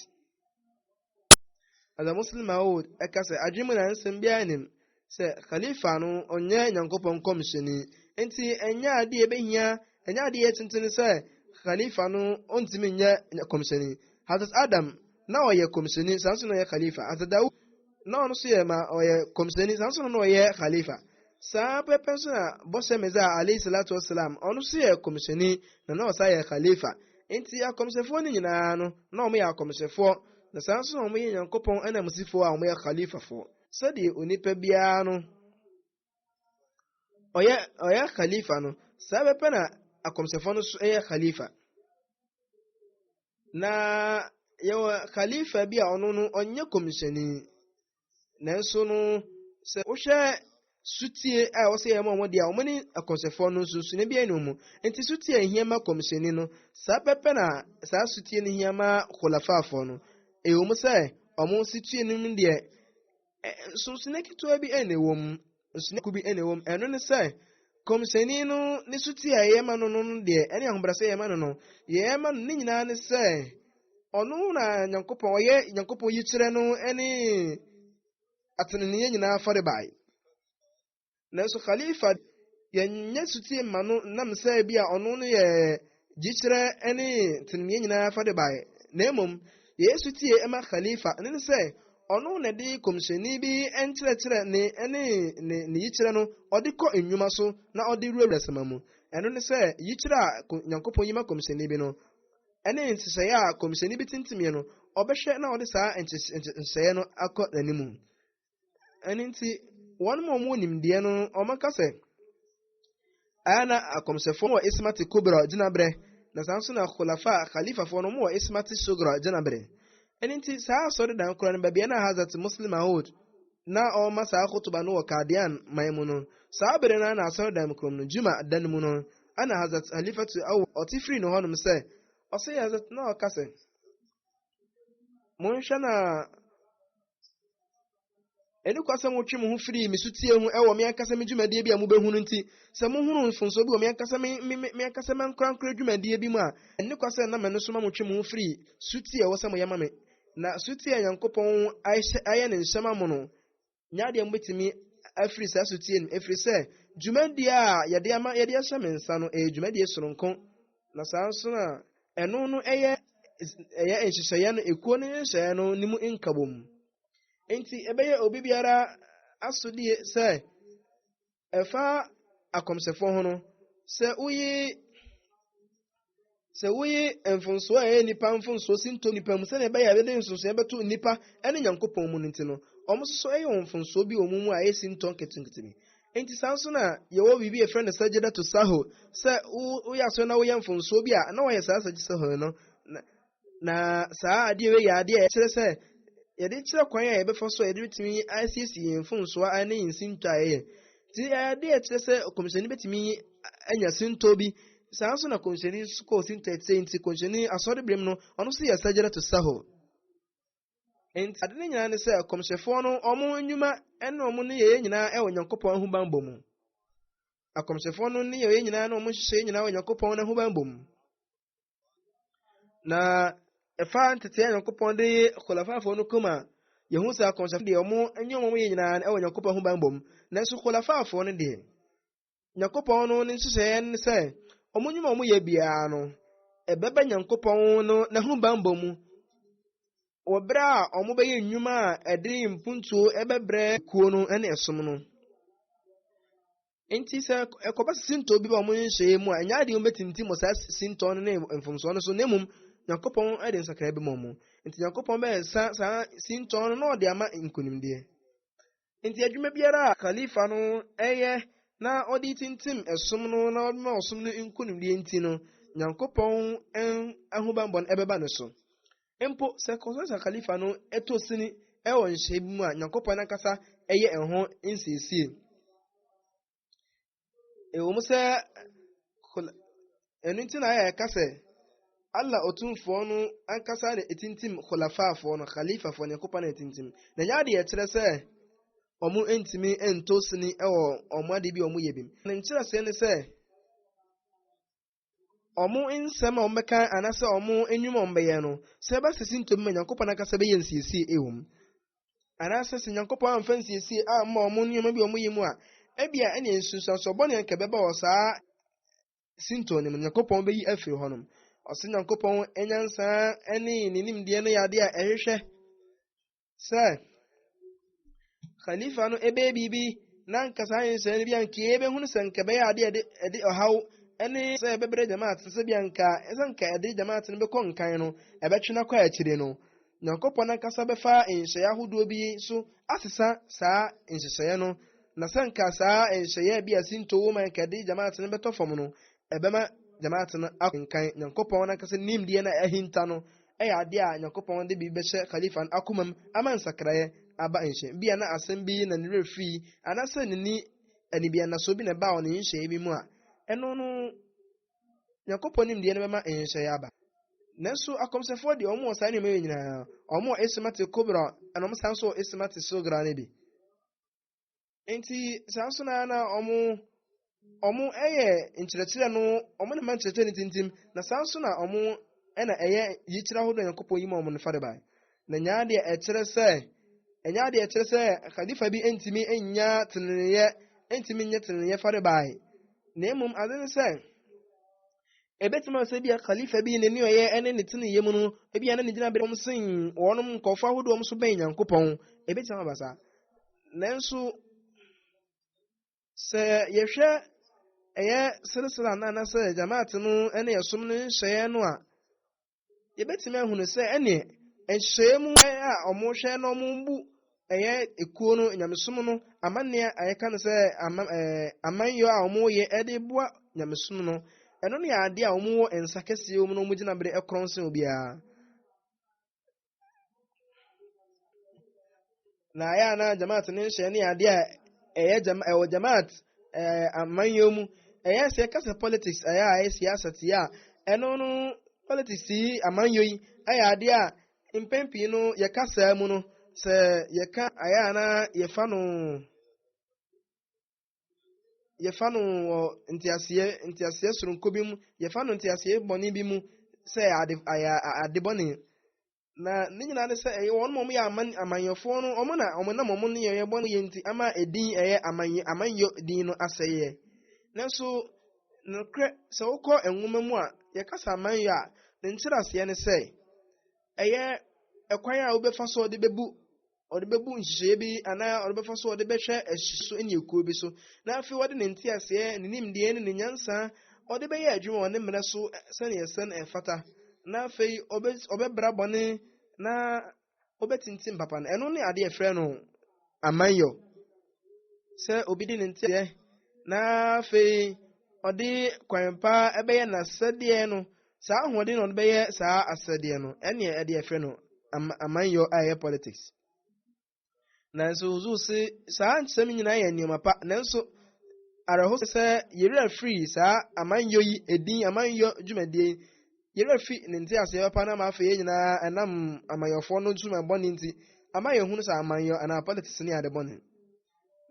As a Muslim I would ɛka sɛ adwene mu na nsɛm biara nim sɛ Khalifa no ɔnyɛ Nyankopɔn nkɔmhyɛni. Nti ɛnyɛ adeɛ ɛbɛhia ɛnyɛ adeɛ tenten sɛ Khalifa no ɔntumi nyɛ kɔmhyɛni. Hazrat Adam na ɔyɛ kɔmhyɛni saa nso na ɔyɛ Khalifa. Hazrat Dawood na ɔno nso yɛ ma ɔyɛ kɔmhyɛni saa nso na ɔyɛ Khalifa. Saa pɛpɛ so na Bɔhyɛ Mesia alaih salaatu wa salaam, ɔno nso yɛ Kɔmhyɛni na na ɔsan yɛ Khalifa. Enti akɔmhyɛfoɔ no nyinaa no, na wɔyɛ akɔmhyɛfoɔ, na saa ara nso na wɔyɛ Nyankopɔn ananmusifoɔ a wɔyɛ Khalifafoɔ. Sɛdeɛ onipa biara no ɔyɛ ɔyɛ Khalifa no, saa pɛpɛ na akɔmhyɛfoɔ no nso yɛ Khalifa. Na yɛwɔ Khalifa bi a ɔno no ɔnyɛ Kɔmhyɛni, nanso no sɛ wohwɛ sutie a wɔsɛ yɛn ma wɔn deɛ wɔn ne akɔnsɛfoɔ no nso sini bi ɛna wɔn nti sutie a ehia ma kɔmsini no saa pɛpɛ na saa sutie no hia ma kɔlafaafoɔ no ɛwɔ mu sɛ wɔn situe no mu deɛ nso sini ketewa bi ɛna ɛwɔ mu Nsonoeɛ bi na ɛwom, ɛno ne sɛ, kɔmhyɛni no ne suti a yɛyɛ ma no no deɛ ɛne ahobrɛsɛ yɛyɛ ma no no yɛyɛ ma no ne nyinaa ne sɛ ɔno na nyankopɔn ɔyɛ nyankopɔn yikyerɛ no ne ateneneɛ nyinaa farebae nanso khalifa yɛnyɛ suti ma no nam sɛ bi a ɔno no yɛ gyikyerɛ ne teneneɛ nyinaa fa de baeɛ, na mmom Yesu tie ma Khalifa, ɛno ne sɛ, ɔno na ɛde kɔmhyɛni bi nkyerɛkyerɛ ne ne ne ne yikyerɛ no ɔde kɔ nnwuma so na ɔde wurawura sɛma mu. Ɛno ne sɛ, yikyerɛ a Nyankopɔn yi ma kɔmhyɛni bi no, ɛne nhyehyɛeɛ a kɔmhyɛni bi tintimiɛ no, ɔbɛhwɛ na ɔde saa nhyehyɛeɛ no akɔ n'animu. ɛno nti wɔn mu wɔn nimdeɛ no wɔka sɛ ɛyɛ na akɔmhyɛfoɔ wɔ ismati kubra gyinaberɛ na saa nso na khulafa khalifafoɔ no wɔ ismati sugra gyinaberɛ ɛno nti saa asɔredan koraa no baabi a na hazat muslim maud na ɔma saa kotoba no wɔ kadian man mu no saa bere no na asɔredan mu kurom no juma da no mu no ana hazat halifatu awo ɔte firi no hɔnom sɛ ɔsɛ hazat na ɔka sɛ Monhwɛ na ɛne kwa sɛ motwe mo ho firi me sotie ho ɛwɔ me ankasa me dwumadie bi a mobɛhunu nti sɛ mohunu mfomsoɔ bi wɔ me ankasa me me me ankasa me ankorankora dwumadie bi mu a ɛne kwa sɛ na mɛno so ma motwe mo ho firi sotie ɛwɔ sɛ moyɛ ma me na sotie a nyankopɔn ayɛ ne nhyɛma mo no nya adeɛ mobɛtumi afiri saa sotie no ɛfiri sɛ dwumadie a yɛde ama yɛde ahyɛ me nsa no ɛyɛ dwumadie soronko na saa nso na ɛno no ɛyɛ ɛyɛ nhyehyɛeɛ no ekuo no nhyehyɛeɛ no ne mu nkabom nti ɛbɛyɛ obi biara asodie sɛ Ɛfa akɔmhyɛfoɔ ho no, sɛ woyi sɛ woyi mfonsoɔ a ɛyɛ nnipa mfonsoɔ si nto nnipa mu sɛdeɛ ɛbɛyɛ a ɛbɛde nsonsoeɛ bɛto nnipa ne nyankopɔn mu no nti no wɔn nso so ɛyɛ wɔn mfonsoɔ bi wɔ wɔn mu a ɛsi ntɔ nketenkete bi nti saa nso na yɛwɔ biribi a yɛfrɛ no sajida to saho sɛ woyɛ asɔre na woyɛ mfonsoɔ bi a na wɔyɛ saa sajida saho no Na saa adeɛ wei yɛ adeɛ a ɛkyerɛ sɛ yɛde kyerɛ kwan a yɛbɛfa so a yɛde bɛtumi asiesie yɛn mfomsoɔ a ɛne yɛn sintɔ a yɛyɛ nti ɛyɛ adeɛ a ɛkyerɛ sɛ kɔmhyɛni bɛtumi anya sintɔ bi saa nso na kɔmhyɛni nso kɔɔ sintɔ ɛkyɛ nti kɔmhyɛni asɔre berem no ɔno nso yɛ sajara to saho nti ade no nyinaa ne sɛ kɔmhyɛfoɔ no ɔmo nnwuma ɛne ɔmo ne yɛyɛ nyinaa ɛwɔ nyankopɔn ahobanbɔ mu akɔmhyɛfoɔ no ne yɛyɛ nyinaa ne ɔmo nhyehyɛ nyinaa wɔ nyankopɔn no ahobanbɔ mu Na ɛfa nteteɛ Nyankopɔn de yɛ kɔlafafoɔ no kɔm a, yɛhu sɛ akɔnhyɛfoɔ deɛ wɔn ɛnyɛ wɔn yɛ nyinaa ɛwɔ Nyankopɔn ho banbɔ mu. Nanso kɔlafafoɔ no deɛ, Nyankopɔn no ne nhyehyɛeɛ ne sɛ, wɔn nnwuma a wɔyɛ biara no, ɛbɛba Nyankopɔn no n'aho banbɔ mu wɔ berɛ a wɔbɛyɛ nnwuma a ɛde mpuntuo ɛbɛbrɛ kuo no ne ɛsom no. nti sɛ ɛkɔba sɛ sintɔ bi ba wɔn nhyehyɛeɛ mu a ɛnyɛ adeɛ wɔbɛtintim wɔ saa sintɔ no ne mfomsoɔ no so na mmom nyankopɔn de nsakra bɛma mu nti nyankopɔn bɛsa saa sintɔ no na ɔde ama nkonimdeɛ nti adwuma biara a khalifa no ɛyɛ na ɔde tintim ɛsom no na ɔma ɔsom no nkonimdeɛ nti no nyankopɔn ahobanbɔ no ɛbɛba ne so Mpo sɛ Constantius Khalifa no to sini wɔ nhyehyɛe bi mu a, Nyankopɔn ankasa yɛ ɛho nsiesie. Ɛwɔ mu sɛ ɛno nti na ayɛ ɛka sɛ Allah Otumfoɔ no ankasa na etintim khulafafoɔ no khalifafoɔ no Nyankopɔn na etintim na nyɛ adeɛ kyerɛ sɛ wɔn ntumi nto sini wɔ wɔn ade bi wɔn yɛ bi ne nkyerɛsee ne sɛ wɔn nsɛm a wɔbɛka anaasɛ wɔn nnwuma a wɔbɛyɛ no, sɛ ɛba sɛ sintɔ bi ma Nyankopɔn ankasa bɛyɛ nsiesie wɔ mu, anaasɛ sɛ Nyankopɔn amfa nsiesie amma wɔn nneɛma bi wɔn yɛ mu a, ebia ɛne nsunsuansoɔ bɔne a nka ɛbɛba wɔ saa sintɔ no mu Nyankopɔn bɛyi afiri hɔnom. Ɔsɛ Nyankopɔn nyansa ne ne nimdeɛ no yɛ adeɛ a ɛhwehwɛ sɛ khalifa no ɛbɛyɛ biribi na nka saa nhyɛn no bi anka yɛbɛhunu sɛ nka ɛbɛyɛ adeɛ ɛde ɛde ɔhaw ɛne sɛ ɛbɛbrɛ jamaat sɛ bi anka ɛsɛ nka ɛde jamaat no bɛkɔ nkan no ɛbɛtwe no akɔ akyire no nyankopɔn ankasa bɛfa nhyɛeɛ ahodoɔ bi so asesa saa nhyehyɛeɛ no na sɛ nka saa nhyɛeɛ bi a sinto wɔ ma nka ɛde jamaat no bɛtɔ fam no ɛbɛma jamaat no akɔ nkan nyankopɔn ankasa nimdeɛ na ahinta no yɛ ade a Nyankopɔn de biribi bɛhyɛ Khalifa no akomam ama nsakraeɛ aba nhyɛ. Ebia na asɛm bi na ne werɛ firii, anaasɛ n'ani anibiannasoɔ bi na ɛbaa wɔ ne nhyehyɛeɛ bi mu a, ɛno no Nyankopɔn nimdeɛ no bɛma nhyehyɛeɛ aba. Nanso akɔmhyɛfoɔ deɛ wɔn wɔ saa nneɛma yi nyinaa, wɔn wɔ Ismati Kubra ɛna wɔn san nso wɔ Ismati Sugra no bi. nti saa nso na na ɔmo ɔmo ɛyɛ nkyerɛkyerɛ no ɔmo na ma nkyerɛkyerɛ no tintim na saa nso na ɔmo ɛna ɛyɛ yikyerɛ ahodoɔ a nyankopɔn yi ma ɔmo no fa de bae na nyaa deɛ ɛkyerɛ sɛ ɛnyɛ adeɛ ɛkyerɛ sɛ khalifa bi ntumi nnya teneneeɛ ntumi nyɛ teneneeɛ fa de bae na mmom ade ne sɛ Ebetumi ayɛ sɛ ebia Khalifa bi n'ani ɔyɛ ne ne teneeyɛ mu no, ebia na ne gyinabea fam sen wɔn nkurɔfo ahodoɔ a wɔso bɛn Nyankopɔn. Ebetumi aba saa. Nanso, sɛ yɛhwɛ ɛyɛ seresere anaa anaasɛ Jamaat no ne ɛsom no nhyehyɛeɛ no a, yɛbɛtumi ahunu sɛ ɛneɛ nhyehyɛeɛ mu a wɔhwɛ na wɔbu ɛyɛ ekuo no nyamesom no amanneɛ a yɛka no sɛ amanyɔ a wɔyɛ de boa nyamesom no ɛno ne adeɛ a wɔwɔ nsa kɛseɛ mu na wɔgyina bere korɔn sen obiara na ayɛ a na jamaat ne nhyɛ ne adeɛ a ɛyɛ jama ɛwɔ jamaat ɛɛ amanyɔ mu ɛyɛ sɛ kasa politics ɛyɛ a ɛyɛ siasa ti a ɛno no politics yi amanyɔ yi ɛyɛ adeɛ a mpɛn pii no yɛka saa mu no sɛ yɛka ayɛ a na yɛfa no. yɛfa no wɔ nteaseɛ nteaseɛ soronko bi mu yɛfa no nteaseɛ bɔne bi mu sɛ ade ayɛ ade bɔne na ne nyinaa ne sɛ ɛyɛ wɔn wɔn yɛ aman amanyɔfoɔ no wɔn na wɔn nam wɔn nneyɛeɛ bɔne yɛ nti ama edin ɛyɛ amanyɔ amanyɔ din no asɛeɛ nanso nokorɛ sɛ wokɔ nwoma mu a yɛkasa amanyɔ a ne nkyerɛaseɛ ne sɛ ɛyɛ ɛkwan a wobɛfa so de bɛbu ɔde bɛbu nhyehyɛeɛ bi anaa ɔde bɛfa so ɔde bɛhwɛ ɛhye so ne ekuo bi so na afei ɔde ne nteaseɛ ne nimdeɛ ne ne nyansa ɔde bɛyɛ adwuma wɔ ne mmerɛ so sɛdeɛ ɛsɛ na ɛfata na afei ɔbɛbra bɔne na ɔbɛtintim papa no ɛno ne adeɛ frɛ no amanyɔ sɛ obi de ne nteɛ na afei ɔde kwan pa bɛyɛ n'asɛdeɛ no saa ahoɔden na ɔde bɛyɛ saa asɛdeɛ no ɛneɛ ɛde ɛfrɛ no amanyɔ a ɛyɛ politics nanso ozu se saa nsɛm nyinaa yɛ nneɛma pa nanso awerɛho sɛ yɛwerɛ firi saa amanyɔ yi edin amanyɔ dwumadie yɛwerɛ fi ne nteaseɛ papa no ama afei yɛn nyinaa ɛnam amanyɔfoɔ no nsuma bɔne nti ama yɛhunu sɛ amanyɔ anaa politics ne ade bɔne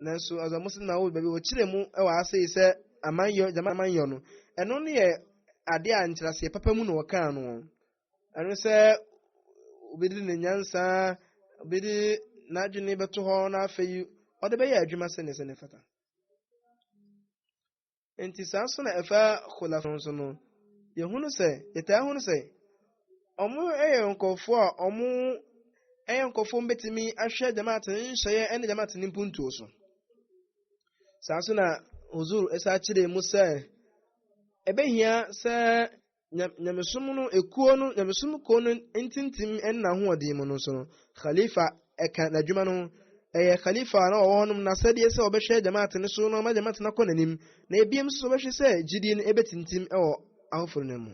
nanso ɔsɛ mo sena wo baabi wɔkyerɛ mu wɔ ase sɛ amanyɔ gyama amanyɔ no ɛno no yɛ ade a nkyerɛseɛ papa mu na wɔkaa no ɛno sɛ obi de ne nyansa obi de n'adwene bɛto hɔ na afei ɔde bɛyɛ adwuma sɛne sɛ ne fata Enti saa nso na ɛfa khulaf no nso no. Yɛhunu sɛ, yɛtaa hunu sɛ, ɔmo yɛ nkɔfoɔ a ɔmo yɛ nkɔfoɔ ɔmo bɛtumi ahwɛ jamaat no nhyɛeɛ ɛne jamaat no mpuntuo so. Saa nso na huzur ɛsa kyerɛ mu sɛ, ɛbɛhia sɛ nyamesom no ekuo no nyamesom kuo no ntintim ɛna ahoɔden mu no nso no khalifa ɛka n'adwuma no ɛyɛ khalifa na ɔwɔ hɔnom na sɛdeɛ sɛ ɔbɛhwɛ jamaat no so na ɔma jamaat no akɔ n'anim na ebiem nso ɔbɛhwɛ sɛ gyidie no ɛbɛtintim ɛwɔ ahoforo no mu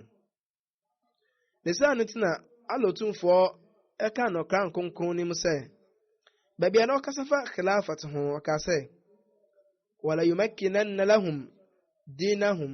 ne saa no ti na alotumfoɔ ɛka no kra nkonkron no mu sɛ baabi a na ɔkasa fa khilafat ho ɔka sɛ wala yumakkinanna lahum dinahum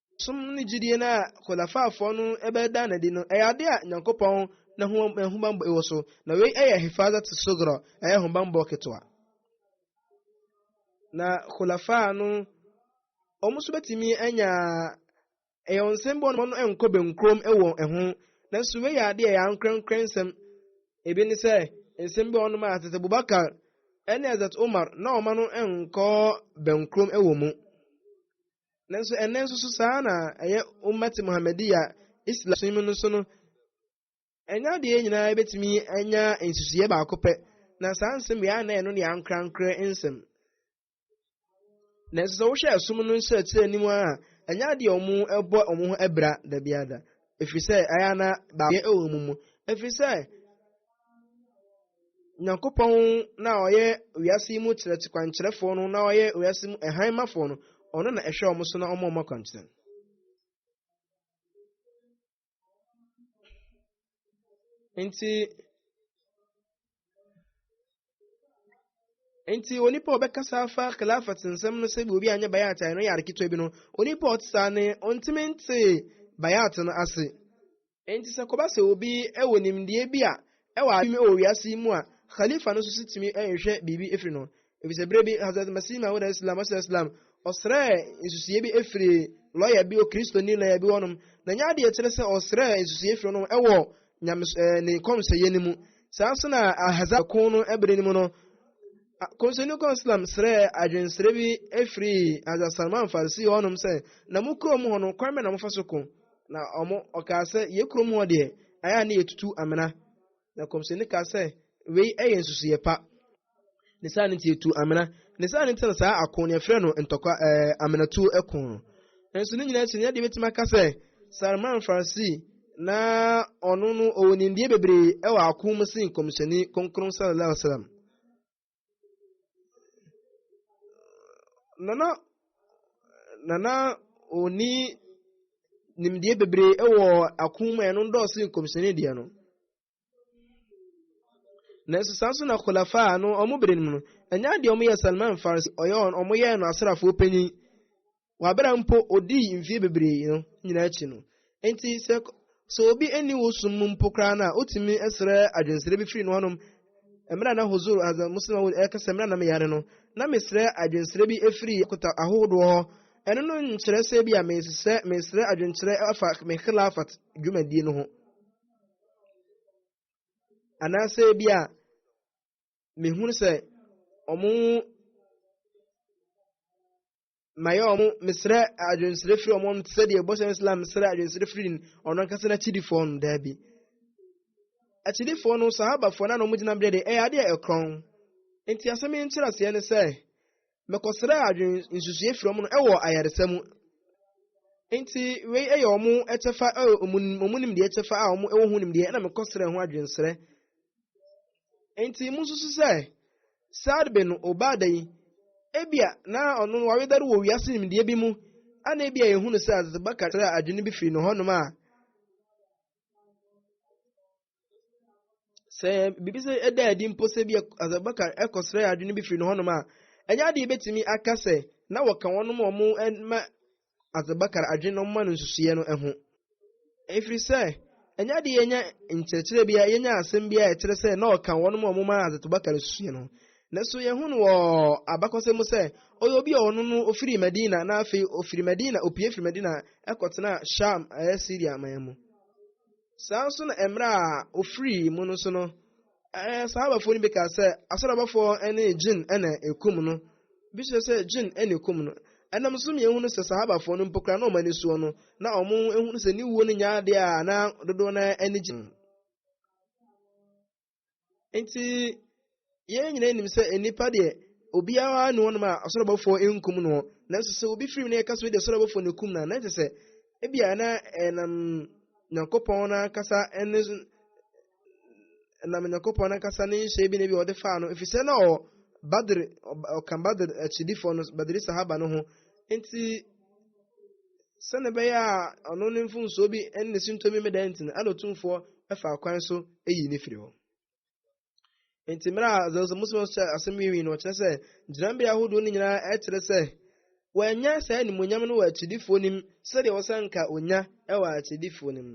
Som ne gyidie no a Khulafa'foɔ no bɛda no adi no yɛ adeɛ a Nyankopɔn n'ahummɔbɔ wɔ so, na wei yɛ Hifazat Sugra, ɛyɛ ahobammɔ ketewa. Na Khulafa' no, wɔn nso bɛtumi anya ɛyɛ wɔn nsɛm bi wɔn no nkɔ benkurom wɔ ɛho, nanso wei yɛ adeɛ yɛ ankorɛnkorɛ nsɛm. Ebi ne sɛ, nsɛm bi wɔn a Hazrat Abubakar ne Hazrat Umar na wɔn no nkɔ benkurom wɔ mu. Nanso ɛnnɛ nso so saa na ɛyɛ Ummati Muhammadiya, Islam som mu no so no. Ɛnyɛ adeɛ nyinaa bɛtumi anya nsusuiɛ baako pɛ, na saa nsɛm wei a na ɛno ne ankorankorɛ nsɛm. Nanso sɛ wohwɛ ɛsom no nkyerɛkyerɛ anim a, ɛnyɛ adeɛ a wɔn ɛbɔ wɔn ho abira da biara da, ɛfiri sɛ ɛyɛ na baayɛ ɛwɔ mu mu, ɛfiri sɛ Nyankopɔn no a ɔyɛ wiase yi mu kyerɛkye kwankyerɛfoɔ no na ɔyɛ wiase mu ɛhan mafoɔ no, ɔno na ɛhwɛ wɔn so na ɔma wɔn akwankyerɛ no. Nti nti onipa a ɔbɛkasa afa khilafat nsɛm no sɛ obi anyɛ bayat a ɛno yɛ ade ketewa bi no onipa a ɔte saa ne ɔntumi nte bayat no ase nti sɛ kɔba sɛ obi wɔ nimdeɛ bi a ɛwɔ adwuma wɔ wiase yi mu a khalifa no nso si tumi nhwɛ biribi efiri no efisɛ bere bi hazrat masih mahud islam ɔsɛ islam ɔsrɛ nsusuie bi efiri lɔya bi o kristoni lɔya bi wɔnom na nyɛ adeɛ kyerɛ sɛ ɔsrɛ nsusuie efiri wɔnom ɛwɔ Nyames eh, ne kɔmhyɛyɛ no mu. Saa nso na Ahazab ko no bere no mu no, kɔmhyɛni kɔn Islam srɛɛ adwensrɛ bi firi Hazrat Salman Farisi hɔnom sɛ, na mo kurom hɔ no, kwan bɛ na mofa so ko? Na ɔmo ɔkaa sɛ, yɛ kurom hɔ deɛ, ayɛ a ne yɛtutu amena. Na kɔmhyɛni kaa sɛ, wei yɛ nsusuiɛ pa. ne saa no nti etu amena ne saa no nti na saa ako ne ɛfrɛ no ntɔkwa ɛɛ eh, amenatu ɛko no nso ne nyinaa akyi ne yɛde betumi aka sɛ Salman Farsi na ɔno no ɔwɔ nimdeɛ bebree ɛwɔ ako mu si nkɔmhyɛni kɔnkɔn sallallahu alaihi wasallam nana nana oni nimdeɛ bebree ɛwɔ ako mu ɛno dɔɔso nkɔmhyɛni deɛ no. nanso saa nso na khulafa no ɔmo bere no mu no ɛnyɛ adeɛ ɔmo yɛ salman farsi ɔyɛ wɔn ɔmo yɛ no asrafoɔ panyin wabera mpo odii mfie bebree no nyinaa akyi no nti sɛ sɛ obi ani wo som mu mpo koraa no a wotumi srɛ adwensrɛ bi firi no hɔnom mmerɛ na huzur azan muslim awod ɛka sɛ mmerɛ na meyare no na mesrɛ adwensrɛ bi firi akota ahodoɔ hɔ ɛno no nkyerɛ sɛ bi a mesrɛ adwenkyerɛ afa me khilafat dwumadie no ho Anaasɛ bi a mehunu sɛ ɔmo mayɛ ɔmo mesrɛ adwensrɛ firi ɔmo te sɛ deɛ bɔhyɛ Islam mesrɛ adwensrɛ firi ɔno ankasa n'akyidifoɔ no daabi akyidifoɔ no sahabafoɔ no na ɔmo gyina berɛ de ɛyɛ adeɛ ɛkorɔn nti asɛm yi nkyerɛaseɛ ne sɛ mekɔsrɛɛ adwen nsusueɛ firi wɔn no wɔ ayaresa mu. Nti wei yɛ wɔn kyɛfa a wɔn nimdeɛ kyɛfa a wɔn wɔ ho nimdeɛ ɛna mekɔsrɛɛ ho adwensrɛ. Nti mu nsusu sɛ Saad bin Obada yi ebia na ɔno no wawedare wɔ wiase nimdeɛ bi mu ana ebia yɛhunu sɛ Hazrat Bakar srɛ adwene bi firi ne hɔnom a sɛ biribi sɛ ɛda adi mpo sɛ bi asɛbaka ɛkɔsrɛ adwene bi firi no hɔnom a ɛnyɛ adeɛ bɛtumi aka sɛ na wɔka wɔnom a wɔn ma asɛbakar adwene no ma no nsusuiɛ no ho ɛfiri sɛ ɛnyɛ adeɛ yɛnya nkyerɛkyerɛ bia yɛnya asɛm bia ɛkyerɛ sɛ na ɔka wɔnom a wɔn ma asɛbakar nsusuiɛ no nanso yɛhu no wɔ abakɔsɛm mu sɛ ɔyɛ obi a ɔno no ɔfiri madina na afei ɔfiri madina ɔpie firi madina ɛkɔtena sham ɛyɛ syria man mu Saa nso na mmerɛ a ɔfirii mu no so no, Sahabafoɔ no bi kaa sɛ, asɔrɔbɔfoɔ ne jinn na ɛkum no. Bi kyerɛ sɛ jinn na ɛkum no. Ɛnam nso mmienu hunu sɛ Sahabafoɔ no mpo koraa na wɔn ani soɔ no, na wɔn hunu sɛ ne wuo no nyɛ adeɛ a na dodoɔ no ara ani gye ho. nti yɛn nyinaa nim sɛ nnipa deɛ obiara ne wɔnom a ɔsoro bɔfoɔ nkum no nanso sɛ obi firi mu na yɛka so de ɔsoro bɔfoɔ no kum no a na kyɛ sɛ ebia na ɛnam nyankopɔn no ankasa ne ɛnam nyankopɔn no ankasa ne nhyɛ bi na ebi ɔde faa no ɛfiri sɛ na ɔ badr ɔka badr akyidifoɔ no badri sahaba no ho nti sɛnea ɛbɛyɛ a ɔno ne mfomsoɔ bi ne ne sintɔ bi mmɛda nti no ɛna otumfoɔ ɛfa kwan so eyi ne firi hɔ nti mmerɛ a zɛwosɛ muslim hyɛ asɛm yi wi no ɔkyerɛ sɛ gyinabea ahodoɔ no nyinaa ɛkyerɛ sɛ wɔanya saa animonyam no wɔ akyidifoɔ nim sɛdeɛ wɔsɛ nka onya ɛwɔ akyidifoɔ nim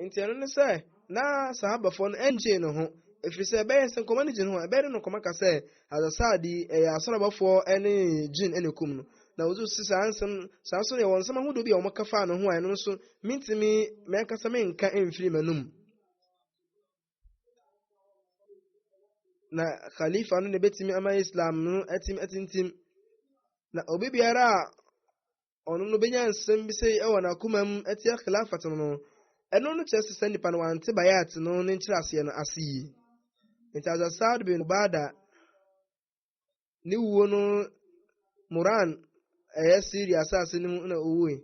nti ɛno ne sɛ na sahabafoɔ no ɛnkyee ne ho ɛfiri sɛ ɛbɛyɛ sɛ nkɔmɔ no gye ne ho ɛbɛyɛ de no nkɔmɔ ka sɛ azasaade yi ɛyɛ asɔrabafoɔ ɛne gyin ɛne kum no na wɔdze si saa nsɛm saa nso yɛ wɔn nsɛm ahodoɔ bi a wɔka faa ne ho a ɛno nso mentumi mɛnkasa menka mfiri m'anum na khalifa no na ɛbɛtumi ama islam no atim atintim na obi biara a ɔno no benya nsɛm bi sei wɔ n'akoma mu atia Khilafat no no, ɛno no kyerɛ sɛ saa nipa no wante Bay'at no ne nkyerɛaseɛ no ase yie. Enti Hazrat Sa'd bin Ubaada ne wuo no Murran ɛyɛ Syria asase no mu na ɔwuoe,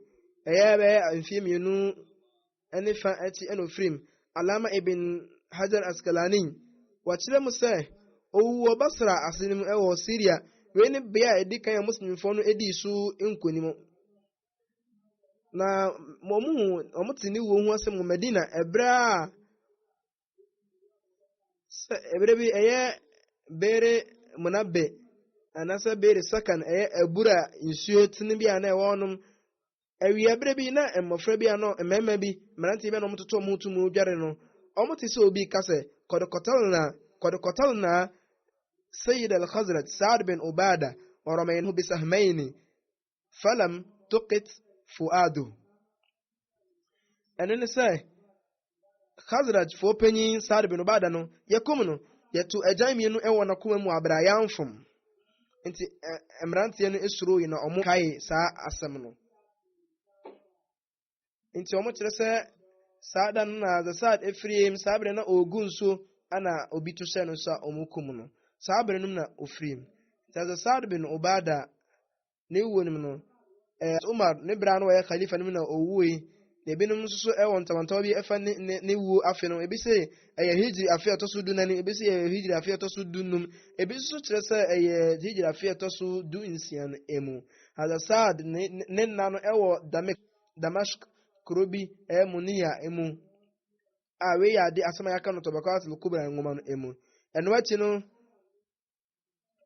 ɛyɛ bɛyɛ mfeɛ mmienu ne fa akyi na ɔfiri mu. Alama Ibn Hajar Askalani, wɔkyerɛ mu sɛ, ɔwuu wɔ Basra ase no mu wɔ Syria. Wei ne bea a ɛdi kan a Muslimfoɔ no dii so nkonim. Na wɔhu, wɔte ne wuo ho asɛm wɔ Medina ɛberɛ a sɛ ɛberɛ bi ɛyɛ bere muna bɛ anaasɛ bere sakan ɛyɛ abura nsuo tene bi a na ɛwɔ hɔnom awia berɛ bi na mmɔfra bi a na mmarima bi mmeranteɛ bi a na wɔtoto wɔn to mu dware no wɔte sɛ obi ka sɛ kɔdekɔtɔl na kɔdekɔtɔl na sayid al-khazrat saad bin obada ɔrɔmɛn ho bisahmaini falam tokit fuado ɛno ne sɛ khazrajfoɔ panyin saad bin obada no yɛkum no yɛto agyan mmienu wɔ n'akoma mu abere a yɛamfom nti mmeranteɛ no suroi na ɔmo kae saa asɛm no nti wɔn kyerɛ sɛ saa da no na Zasad efiri mu saa bere na ɔregu nso na obi to hyɛ no nso a wɔn kum no saa bere no na ofiri mu nti Zasad bin Obada ne wuo no mu no ɛɛ eh, Umar ne bere ano wɔyɛ khalifa no mu na owuo yi na ebinom nso so ɛwɔ ntamantawa bi ɛfa ne ne ne wuo afe no ebi sɛ ɛyɛ hijri afe ɛtɔ so du nani ebi sɛ ɛyɛ hijri afe ɛtɔ so du num ebi nso kyerɛ sɛ ɛyɛ hijri afe ɛtɔ so du nsia no emu. Arfaxad ne ne nna no wɔ Damik, Damask, kuro bi ɛyɛ Muniya mu, a wei yɛ ade asɛm a yɛaka no Tabaqat al-Kubra nwoma no mu. Ɛno akyi no,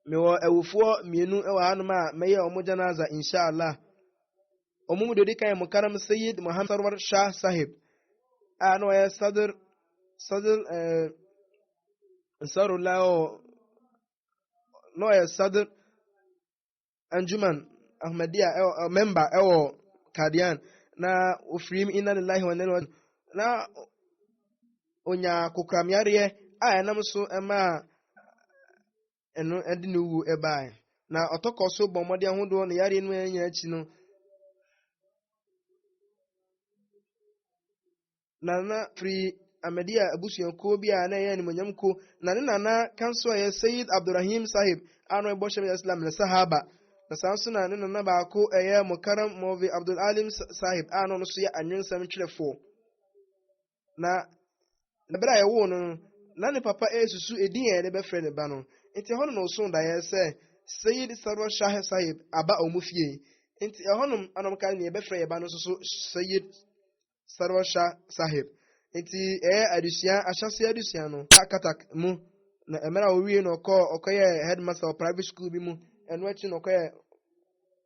mewɔ awufoɔ mmienu wɔ hanom a mɛyɛ wɔn janaza inshallah. Wɔn mu deɛ ɔdi kan yɛ Mukarram Sayyid Muhammad Sarwar Shah Sahib a na ɔyɛ Sadr Sadr eh, Ansarullah na ɔyɛ Sadr Anjuman Ahmadiyya ɛwɔ eh, member ɛwɔ Kadian na ofiri mu inna lillahi wa inna na onya kokoramyareɛ a ɛnam so ɛmaa ɛno ɛde ne wu ɛbae na ɔtɔkɔ so bɔ mmɔden ahodoɔ ne yareɛ no nyinaa akyi no Nana firi Ahmadiyya abusuakuo bi a na ɛyɛ animuonyam kuo, na ne nana ka nso a ɛyɛ Sayyid Abdurrahim Sahib a na ɔyɛ Bɔhyɛ Mya Islam ne Sahaba, na saa nso na ne nana baako a ɛyɛ Mukarram Maulvi Abdul Alim Sahib a na ɔno nso yɛ anwensɛm twerɛfoɔ. Na na berɛ a yɛwoo no no, na ne papa resusu edin a yɛde bɛfrɛ ne ba no, nti ɛhɔ no na ɔsoo daeɛ sɛ Sayyid Sarwar Shah Sahib aba wɔn fie, nti ɛhɔnom na wɔkaa nea yɛbɛfrɛ yɛn ba no nso so Sayyid Sarwar Shah Sahib. Ntsi ɛyɛ adesua, ahyɛse adesua no, na Cuttack mu, na mber a owiei no ɔkɔɔ ɔkɔyɛɛ headmaster wɔ private skuul bi mu, no ekyir no ɔkɔyɛɛ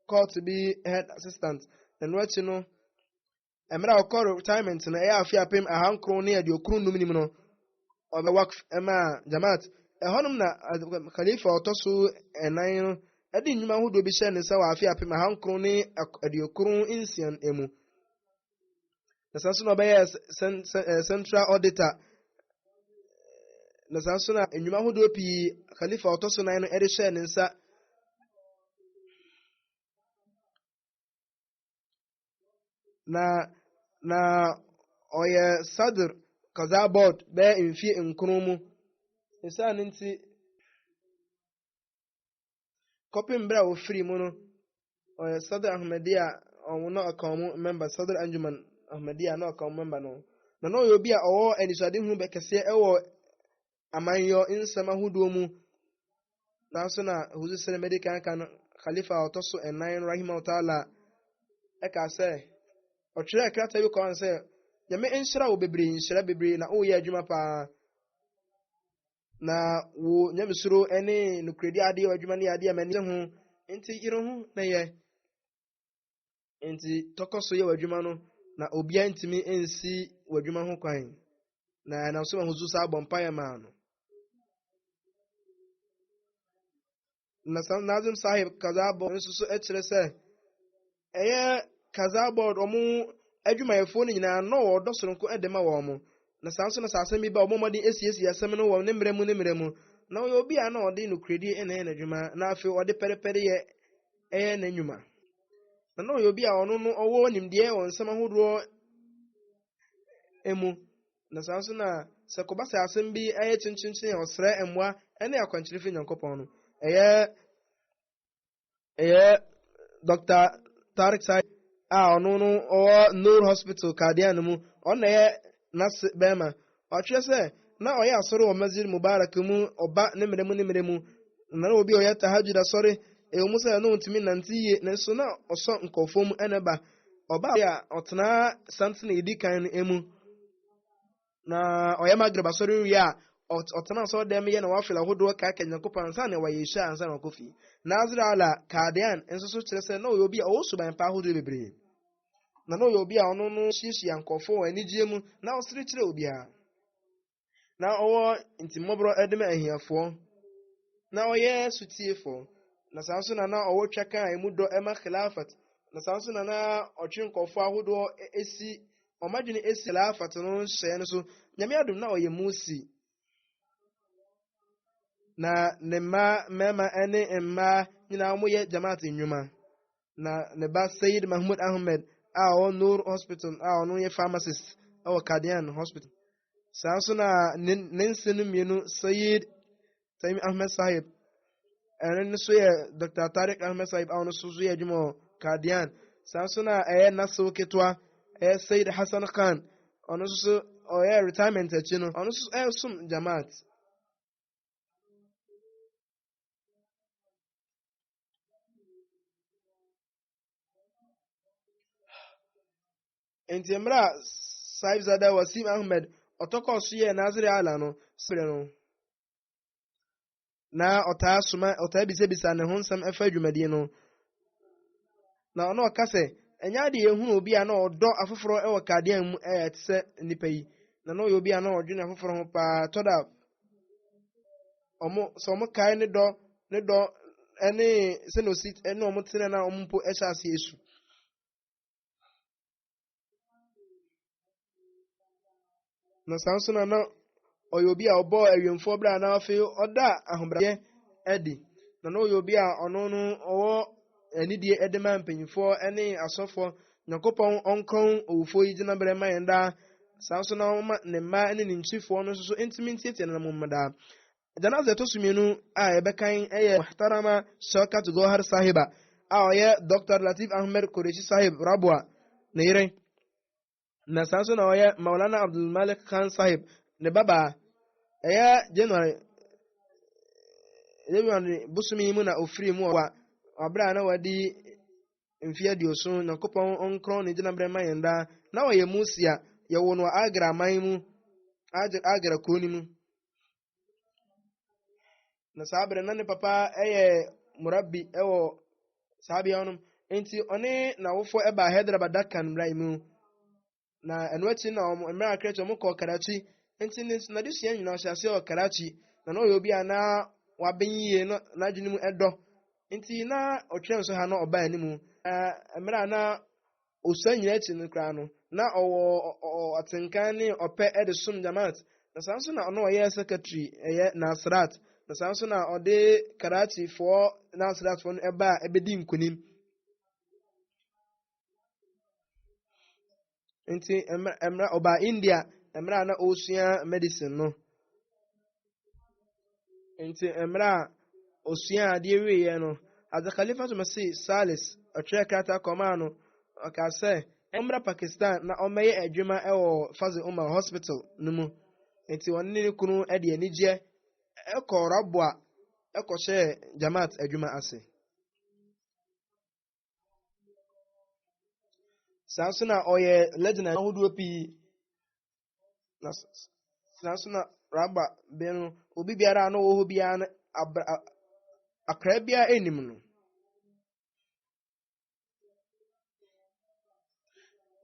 court bi head assistant, na no ekyir no mber a ɔkɔɔ retirement no, ɛyɛ afe apem ahankron ne eduokron num nim no, ɔbɛ Waqf maa Jamaat. Hɔnom na Khalifa a ɔtɔ so nan no de nnwuma ahodoɔ bi hyɛɛ ne nsa wɔ afe apem ahankron ne eduokron nsia mu, na saa nso na ɔbɛyɛ eh, central auditor na saa nso na nnwuma ahodoɔ pii khalifa ɔtɔ so nan no de hyɛɛ ne nsa na na ɔyɛ sadr kaza board bɛyɛ mfie nkron mu ɛsiane nti kɔpem berɛ a wɔfiri mu no ɔyɛ Sadr Ahmadiyya a ɔno na ɔka wɔn mɛmba Sadr Anjuman Ahmadiyya na ɔka wɔn mɛmba no na na ɔyɛ obi a ɔwɔ anisoadehunu bɛkɛseɛ ɛwɔ amanyɔ nsɛm ahodoɔ mu nanso na huzu sere mɛde kanka no khalifa a ɔtɔ so ɛnan no rahima taala ɛka sɛ ɔtwerɛ krataa bi kɔn sɛ nyame nhyira wo bebree nhyira bebree na woyɛ adwuma paa Na wo nyamesuro ne nokorɛdi adeɛ adwuma ne adeɛ a m'ani ho nti yere ho na yɛ nti tɔkɔ so yɛ w'adwuma no na obiara ntumi nsi w'adwuma ho kwan na ɛnam so ma ho so saa bɔ mpaeɛ maa no na saa nazim sahib kazabɔ nso so kyerɛ sɛ ɛyɛ kazabɔ wɔn adwumayɛfoɔ no nyinaa na wɔdɔ soronko de ma wɔn mo na saa nso na saa asɛm bi ba wɔn mmɔden asiesie asɛm no wɔ ne mmerɛ mu ne mmerɛ mu na ɔyɛ obi a na ɔde nokorɛdie ɛna ɛyɛ n'adwuma na afei ɔde pɛrepɛre yɛ ɛyɛ n'anwuma na na ɔyɛ obi a ɔno no ɔwɔ nimdeɛ wɔ nsɛm ahodoɔ mu na saa nso na sɛ kɔba sɛ asɛm bi yɛ kyenkyenkyen a ɔsrɛ mmoa ne akwankyerɛ fi nyankopɔn no ɛyɛ ɛyɛ dr tarik sai a ɔno no ɔwɔ nur hospital kadeɛ no mu ɔna ɛyɛ nase bɛrima ɔtwerɛ sɛ na ɔyɛ asɔre wɔ masjid mubarak mu ɔba ne mmerɛ mu ne mmerɛ mu na na obi ɔyɛ tahajud asɔre ɛwɔ mu sɛ ɛno ntumi nante yie nanso na ɔsɔ nkɔfoɔ mu ɛna ba ɔbaa a ɔtenaa santen a edi kan no mu na ɔyɛ magreb asɔre wie a ɔtena asɔre dɛm yɛ na wafel ahodoɔ kaaka nyankopɔn ansa na wɔyɛ hyɛ ansa na ɔkɔ fie nazir ala kadean nso so kyerɛ sɛ na ɔyɛ obi a ɔwɔ suban pa ahodoɔ bebree na na ɔyɛ obi a ɔno no hyiahyia nkurɔfoɔ wɔ anigyeɛ mu na ɔsere kyerɛ obiara na ɔwɔ ntimmɔborɔ de ma ahiafoɔ, na ɔyɛ sotiefoɔ, na saa nso na na ɔwɔ twaka a emu dɔ ma khilafat, na saa nso na na ɔtwe nkɔfoɔ ahodoɔ si wɔn adwene si khilafat no hyɛɛ no so. Nyame adom na ɔyɛ Musi. Na ne mma mmarima ne mmaa nyinaa wɔyɛ jamaat nnwuma. na ne ba Sayyid Mahmud Ahmed a ɔwɔ Noor Hospital a ɔno yɛ pharmacist wɔ Kadian Hospital. Saa nso na ne ne nse no mmienu Sayyid Taimi Ahmed Sahib ɛno no so yɛ Dr. Tariq Ahmed Sahib a ɔno so so yɛ adwuma wɔ Kadian. Saa nso na ɛyɛ Nasir ketewa ɛyɛ Sayyid Hassan Khan ɔno nso so ɔyɛ retirement akyi no ɔno nso ɛresom Jamaat. nti mmerɛ a saibzada wasim ahmed ɔtɔkɔɔ so yɛɛ nasere ala no sere no na ɔtaa soma ɔtaa bisabisa ne ho nsɛm ɛfa dwumadie no na ɔno ɔka sɛ ɛnyɛ ade ehunu obi a na ɔdɔ afoforɔ ɛwɔ kadeɛ mu ɛyɛ te sɛ nipa yi na na ɔyɛ obi a na ɔdwene afoforɔ ho paa tɔda ɔmo sɛ ɔmo kae ne dɔ ne dɔ ɛne sɛ na osi ɛne ɔmo tena na ɔmo mpo ɛhyɛ ase esu. na saa nso na na ɔyɛ obi a ɔbɔɔ awiemfoɔ berɛ a na afei ɔda ahobrɛaseɛ adi na na ɔyɛ obi a ɔno no ɔwɔ anidie de ma mpanyinfoɔ ne asɔfoɔ nyankopɔn ɔnkron owufoɔ yi gyina berɛ ma yɛn daa saa nso na ɔma ne mma ne ne nkyifoɔ no nso so ntumi ntietie no mu daa janaza ɛtɔ so mmienu a yɛbɛkan yɛ muhtarama shaukat gohar sahiba a ɔyɛ dr latif ahmed koreshi sahib rabwa ne yere na saa nso na ɔyɛ Maulana Abdul Malik Khan Sahib ne babaa ɛyɛ January January bosome yi mu na ofiri mu ɔwa ɔbrɛ a na wadi mfe aduoso Nyankopɔn ɔnkorɔn ne gyinabrɛ ma yɛn daa na ɔyɛ Musia yɛwo no Agra man mu Agra kuo no mu na saa berɛ na ne papa yɛ murabi wɔ saa bea no nti ɔne n'awofoɔ ɛbaa hyɛdraba dakan mmara mu na ɛno akyi na wɔn mmerɛ akrɛ akyi wɔn kɔɔ karachi nti ne n'adesua nyinaa ɔhyɛ aseɛ wɔ karachi na na ɔyɛ obi a na waben yie na n'adwene mu ɛdɔ nti na ɔtwerɛ nso ha na ɔbaa anim na mmerɛ a na osua nyinaa akyi no koraa no, na ɔwɔ atenka ne ɔpɛ de som Jamaat, na saa nso na na ɔyɛ secretary ɛyɛ Nasrat, na saa nso na ɔde Karachi foɔ Nasrat foɔ no ɛba a ɛbɛdi nkunim. Nti, ɛmra, ɔbaa India, ɛmra na ɔresua medicine no. nti mmerɛ a ɔsua adeɛ wieɛ no adze khalifa to mɛse salis ɔtwerɛ krata kɔmaa no ɔkaa sɛ ɔmmra pakistan na ɔmmɛyɛ adwuma wɔ faze umar hospital no mu nti ɔne ne kunu de anigyeɛ ɛkɔ raboa ɛkɔhyɛɛ jamaat adwuma ase saa nso na ɔyɛ legend ahodoɔ pii na saa nso na raba bɛn no obi biara a na ɔwɔ hɔ biara no abra akra biara anim no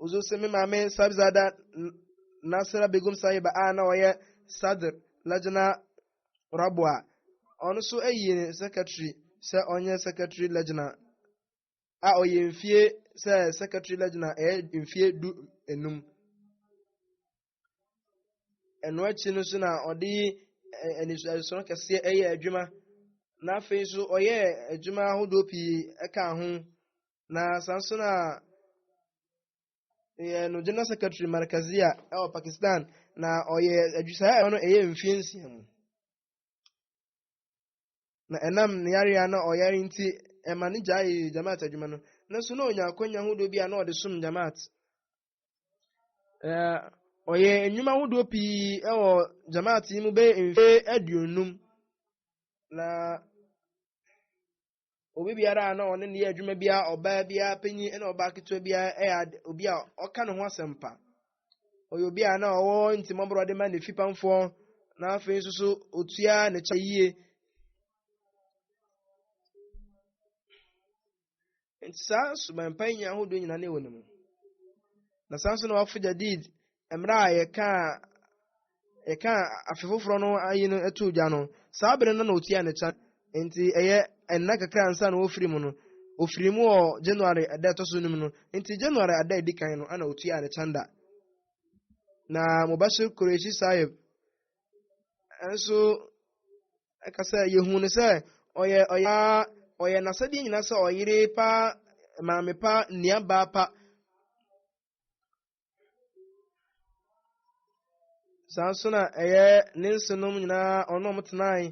nso sɛ me maame sabzada nasra begum sahiba a na ɔyɛ sadr lajna raboa ɔno nso ayi ne secretary sɛ ɔnyɛ secretary lajna a ɔyɛ mfie sɛ secretary lajna ɛyɛ mfie du enum ɛno akyi no so na ɔde anisoadesono kɛseɛ ɛyɛ adwuma na afei nso ɔyɛ adwuma ahodoɔ pii ɛka ho na saa nso na yɛ no general secretary markazia ɛwɔ pakistan na ɔyɛ adwusaa ɛwɔ no ɛyɛ mfie nsia mu na ɛnam ne yareɛ na ɔyare nti ɛma ne gyae jamaat adwuma no nanso na ɔnya akwanya hodoɔ bi a na ɔde som jamaat ɔyɛ nnwuma hodoɔ pii ɛwɔ jamaat yi mu bɛyɛ mfie aduonum na obi biara a na ɔne ne yɛ adwuma biara ɔbaa biara panyin ne ɔbaa ketewa biara yɛ obi a ɔka ne ho asɛmpa ɔyɛ obi a na ɔwɔ ntimɔborɔ de ma ne fipamfoɔ na afei nso so otua ne kyɛ yie nti saa subanpa yi nya ahodoɔ nyinaa ne wɔ ne mu na saa nso na wafo gyadid mmerɛ a yɛkaa yɛka afe foforɔ no ayi no too gya no saa bere no na ɔtua ne kyan nti ɛyɛ ɛnna kakra nsa na ɔfiri mu no ɔfiri mu wɔ January ɛda ɛtɔ so num no nti January ada ɛdi kan no ana ɔtua ne kyan da na Mubashir Qureshi Sahib nso ɛka sɛ yɛhu no sɛ ɔyɛ ɔyɛ ɔyɛ n'asɛdeɛ nyinaa sɛ ɔyere pa maame pa nuabaa pa saa nso na ɛyɛ ne nsenom nyinaa ɔno ɔmo tenae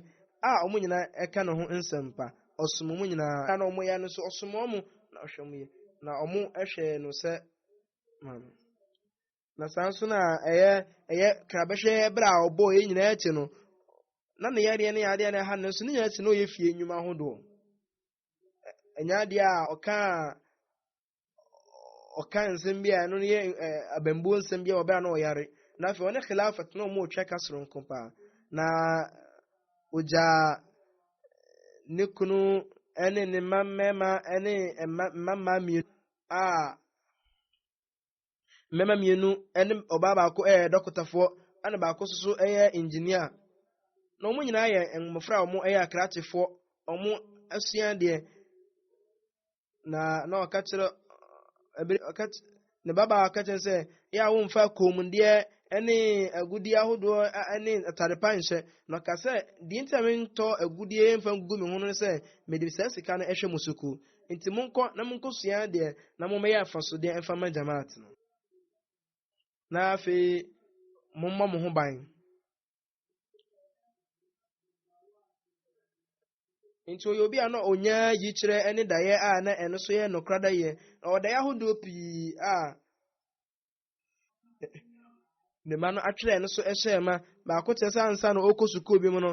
a ɔmo nyinaa ɛka ne ho nsɛmpa ɔsom ɔmo nyinaa na ɔmo yɛ no so ɔsom ɔmo na ɔhwɛ ɔmo yɛ na ɔmo ɛhwɛ no sɛ maame na saa nso na ɛyɛ ɛyɛ krabɛhwɛ ɛbrɛ a ɔbɔ yɛ nyinaa akyi no na ne yɛdeɛ ne yadeɛ na ɛha no nso ne nyinaa akyi na ɔyɛ fie nnwuma ahodoɔ ɛnyɛ adeɛ a ɔkaa ɔka nsɛm bi a ɛno yɛ abambuo nsɛm bi a ɔbɛn na ɔyare na afei ɔne khilafat na wɔn retwa ka soronko paa na ogya ne kunu ne ne mma mmarima ne mma mmaa mmienu a Mmarima mmienu ne ɔbaa baako yɛ dɔkotafoɔ, ɛna baako nso so yɛ engineer. Na wɔn nyinaa yɛ mmɔfra a wɔyɛ akrakyefoɔ. Wɔasua adeɛ. Na na ɔka kyerɛ ɛbere ɔka ne babaa ɔka kyerɛ sɛ yɛ a wɔmfa kɔnmuadeɛ ne agudeɛ ahodoɔ ne atade pa nhyɛ. Na ɔka sɛ deɛ nti a mentɔ agudeɛ mfa ngu me ho no sɛ mede saa sika no hwɛ mo sukuu. nti monkɔ na monkɔsua adeɛ na mommɛyɛ afasodeɛ mfa ma jamaat no na afei mommɔ mo ho ban nti ɔyɛ obi a na ɔnya yikyerɛ ne daeɛ a na ɛno so yɛ nokora daeɛ na ɔdaeɛ ahodoɔ pii a ne mma no atwerɛ no so hyɛɛ ma baako kyerɛ sɛ ansa na ɔkɔ sukuu bi mu no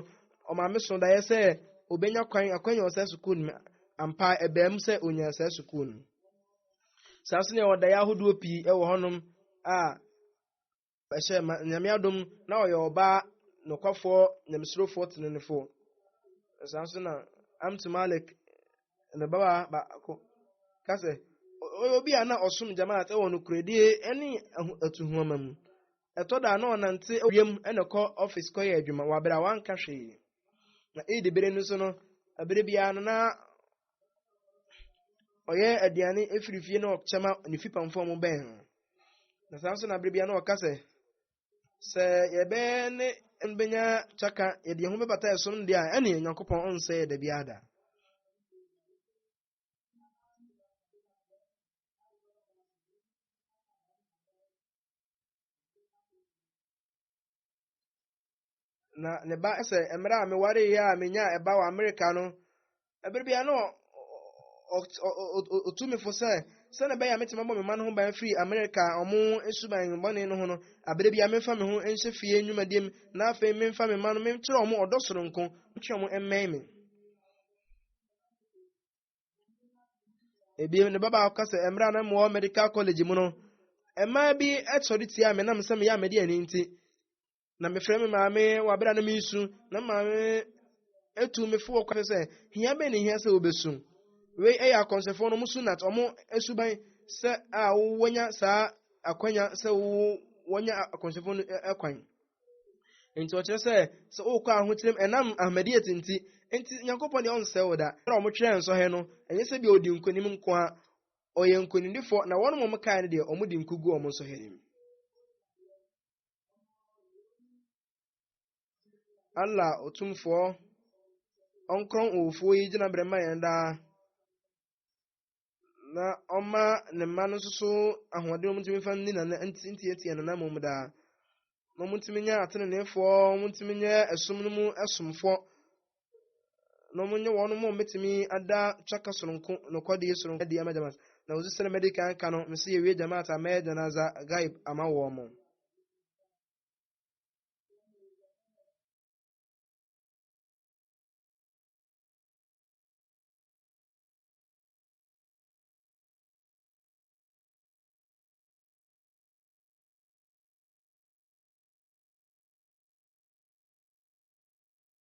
ɔmaame so daeɛ sɛ ɔbɛnya kwan akwanya wɔ saa sukuu no mu ampa ɛbaa mu sɛ ɔnya saa sukuu no saa nso nea wɔdaeɛ ahodoɔ pii wɔ hɔnom a ɛhyɛ ma nyame adom na ɔyɛ ɔbaa nokwafoɔ nyamesurofoɔ tenenefoɔ saa nso na amtu malik ne babaa baako ka sɛ, ɔyɛ obi a na ɔsom Jamaat wɔ nokorɛdie ne atuhoama mu. Ɛtɔ da a na ɔnante wiem na ɛkɔ ɔfis kɔyɛ adwuma wɔ abere a wanka hwee. Na Eid bere no so no, abere biara no na ɔyɛ aduane firi fie na ɔkyɛ ma ne fipamfoɔ mo bɛn ho. Na saa nso na abere biara na ɔka sɛ, sɛ yɛbɛyɛ ne bɛnya kyaka yɛde yɛn ho bɛbata ɛsom deɛ a ɛne onyankopɔn ɔnsɛ yɛ da biara da na ne ba sɛ mmerɛ a mewareeɛ a menyaa ɛba wɔ amerika no ɛberɛ bia no ɔtu me fo sɛ sɛne bɛyɛ a metumi abɔ me ma no ho ban firi amerika ɔmo suban bɔne no ho no aberɛ bia memfa me ho nhyɛ fie nnwumadie mu na afei memfa me ma no menkyerɛ ɔmo ɔdɔ soronko ntwe ɔmo mmɛn me ebiem ne baba ɔka sɛ mmerɛ a na mewɔ medical college mu no mmaa bi sɔre tia me nam sɛ meyɛ a mede ani nti na mefrɛ me maame wɔ abere a na meresu na maame etu me fo wɔ kwan sɛ hia bɛn ne hia sɛ obesu wei ɛyɛ akɔnsɛfoɔ no ɔmo su nat ɔmo suban sɛ a wɔnya saa akwanya sɛ wɔnya akɔnsɛfoɔ no ɛkwan nti ɔkyerɛ sɛ sɛ ɔkɔ ahokyerɛm ɛnam ahmadiyat nti nti nyankopɔn deɛ ɔnsɛ wo da na ɔmo twerɛ nsɔhɛ no ɛnyɛ sɛ bi ɔdi nkonim nko a ɔyɛ nkonimdifoɔ na wɔn mo kae no deɛ ɔmo di nkugu ɔmo nsɔhɛ nim Allah Otumfoɔ ɔnkorɔn owufoɔ yi gyinabrɛ ma yɛn daa na ɔma ne mma no nso so ahoɔden wɔn ntumi fa ne nana ntiatia nana mu mu daa na wɔn ntumi nyɛ ateneneefoɔ wɔn ntumi nyɛ ɛsom no mu ɛsomfoɔ na wɔnyɛ wɔn mu mɛtumi ada twaka soronko nokɔdeɛ soronko adi ama jamaat na wɔsi sɛ mɛdi kan ka no mesi yɛwie jamaat a mɛyɛ janaza gaib ama wɔn mo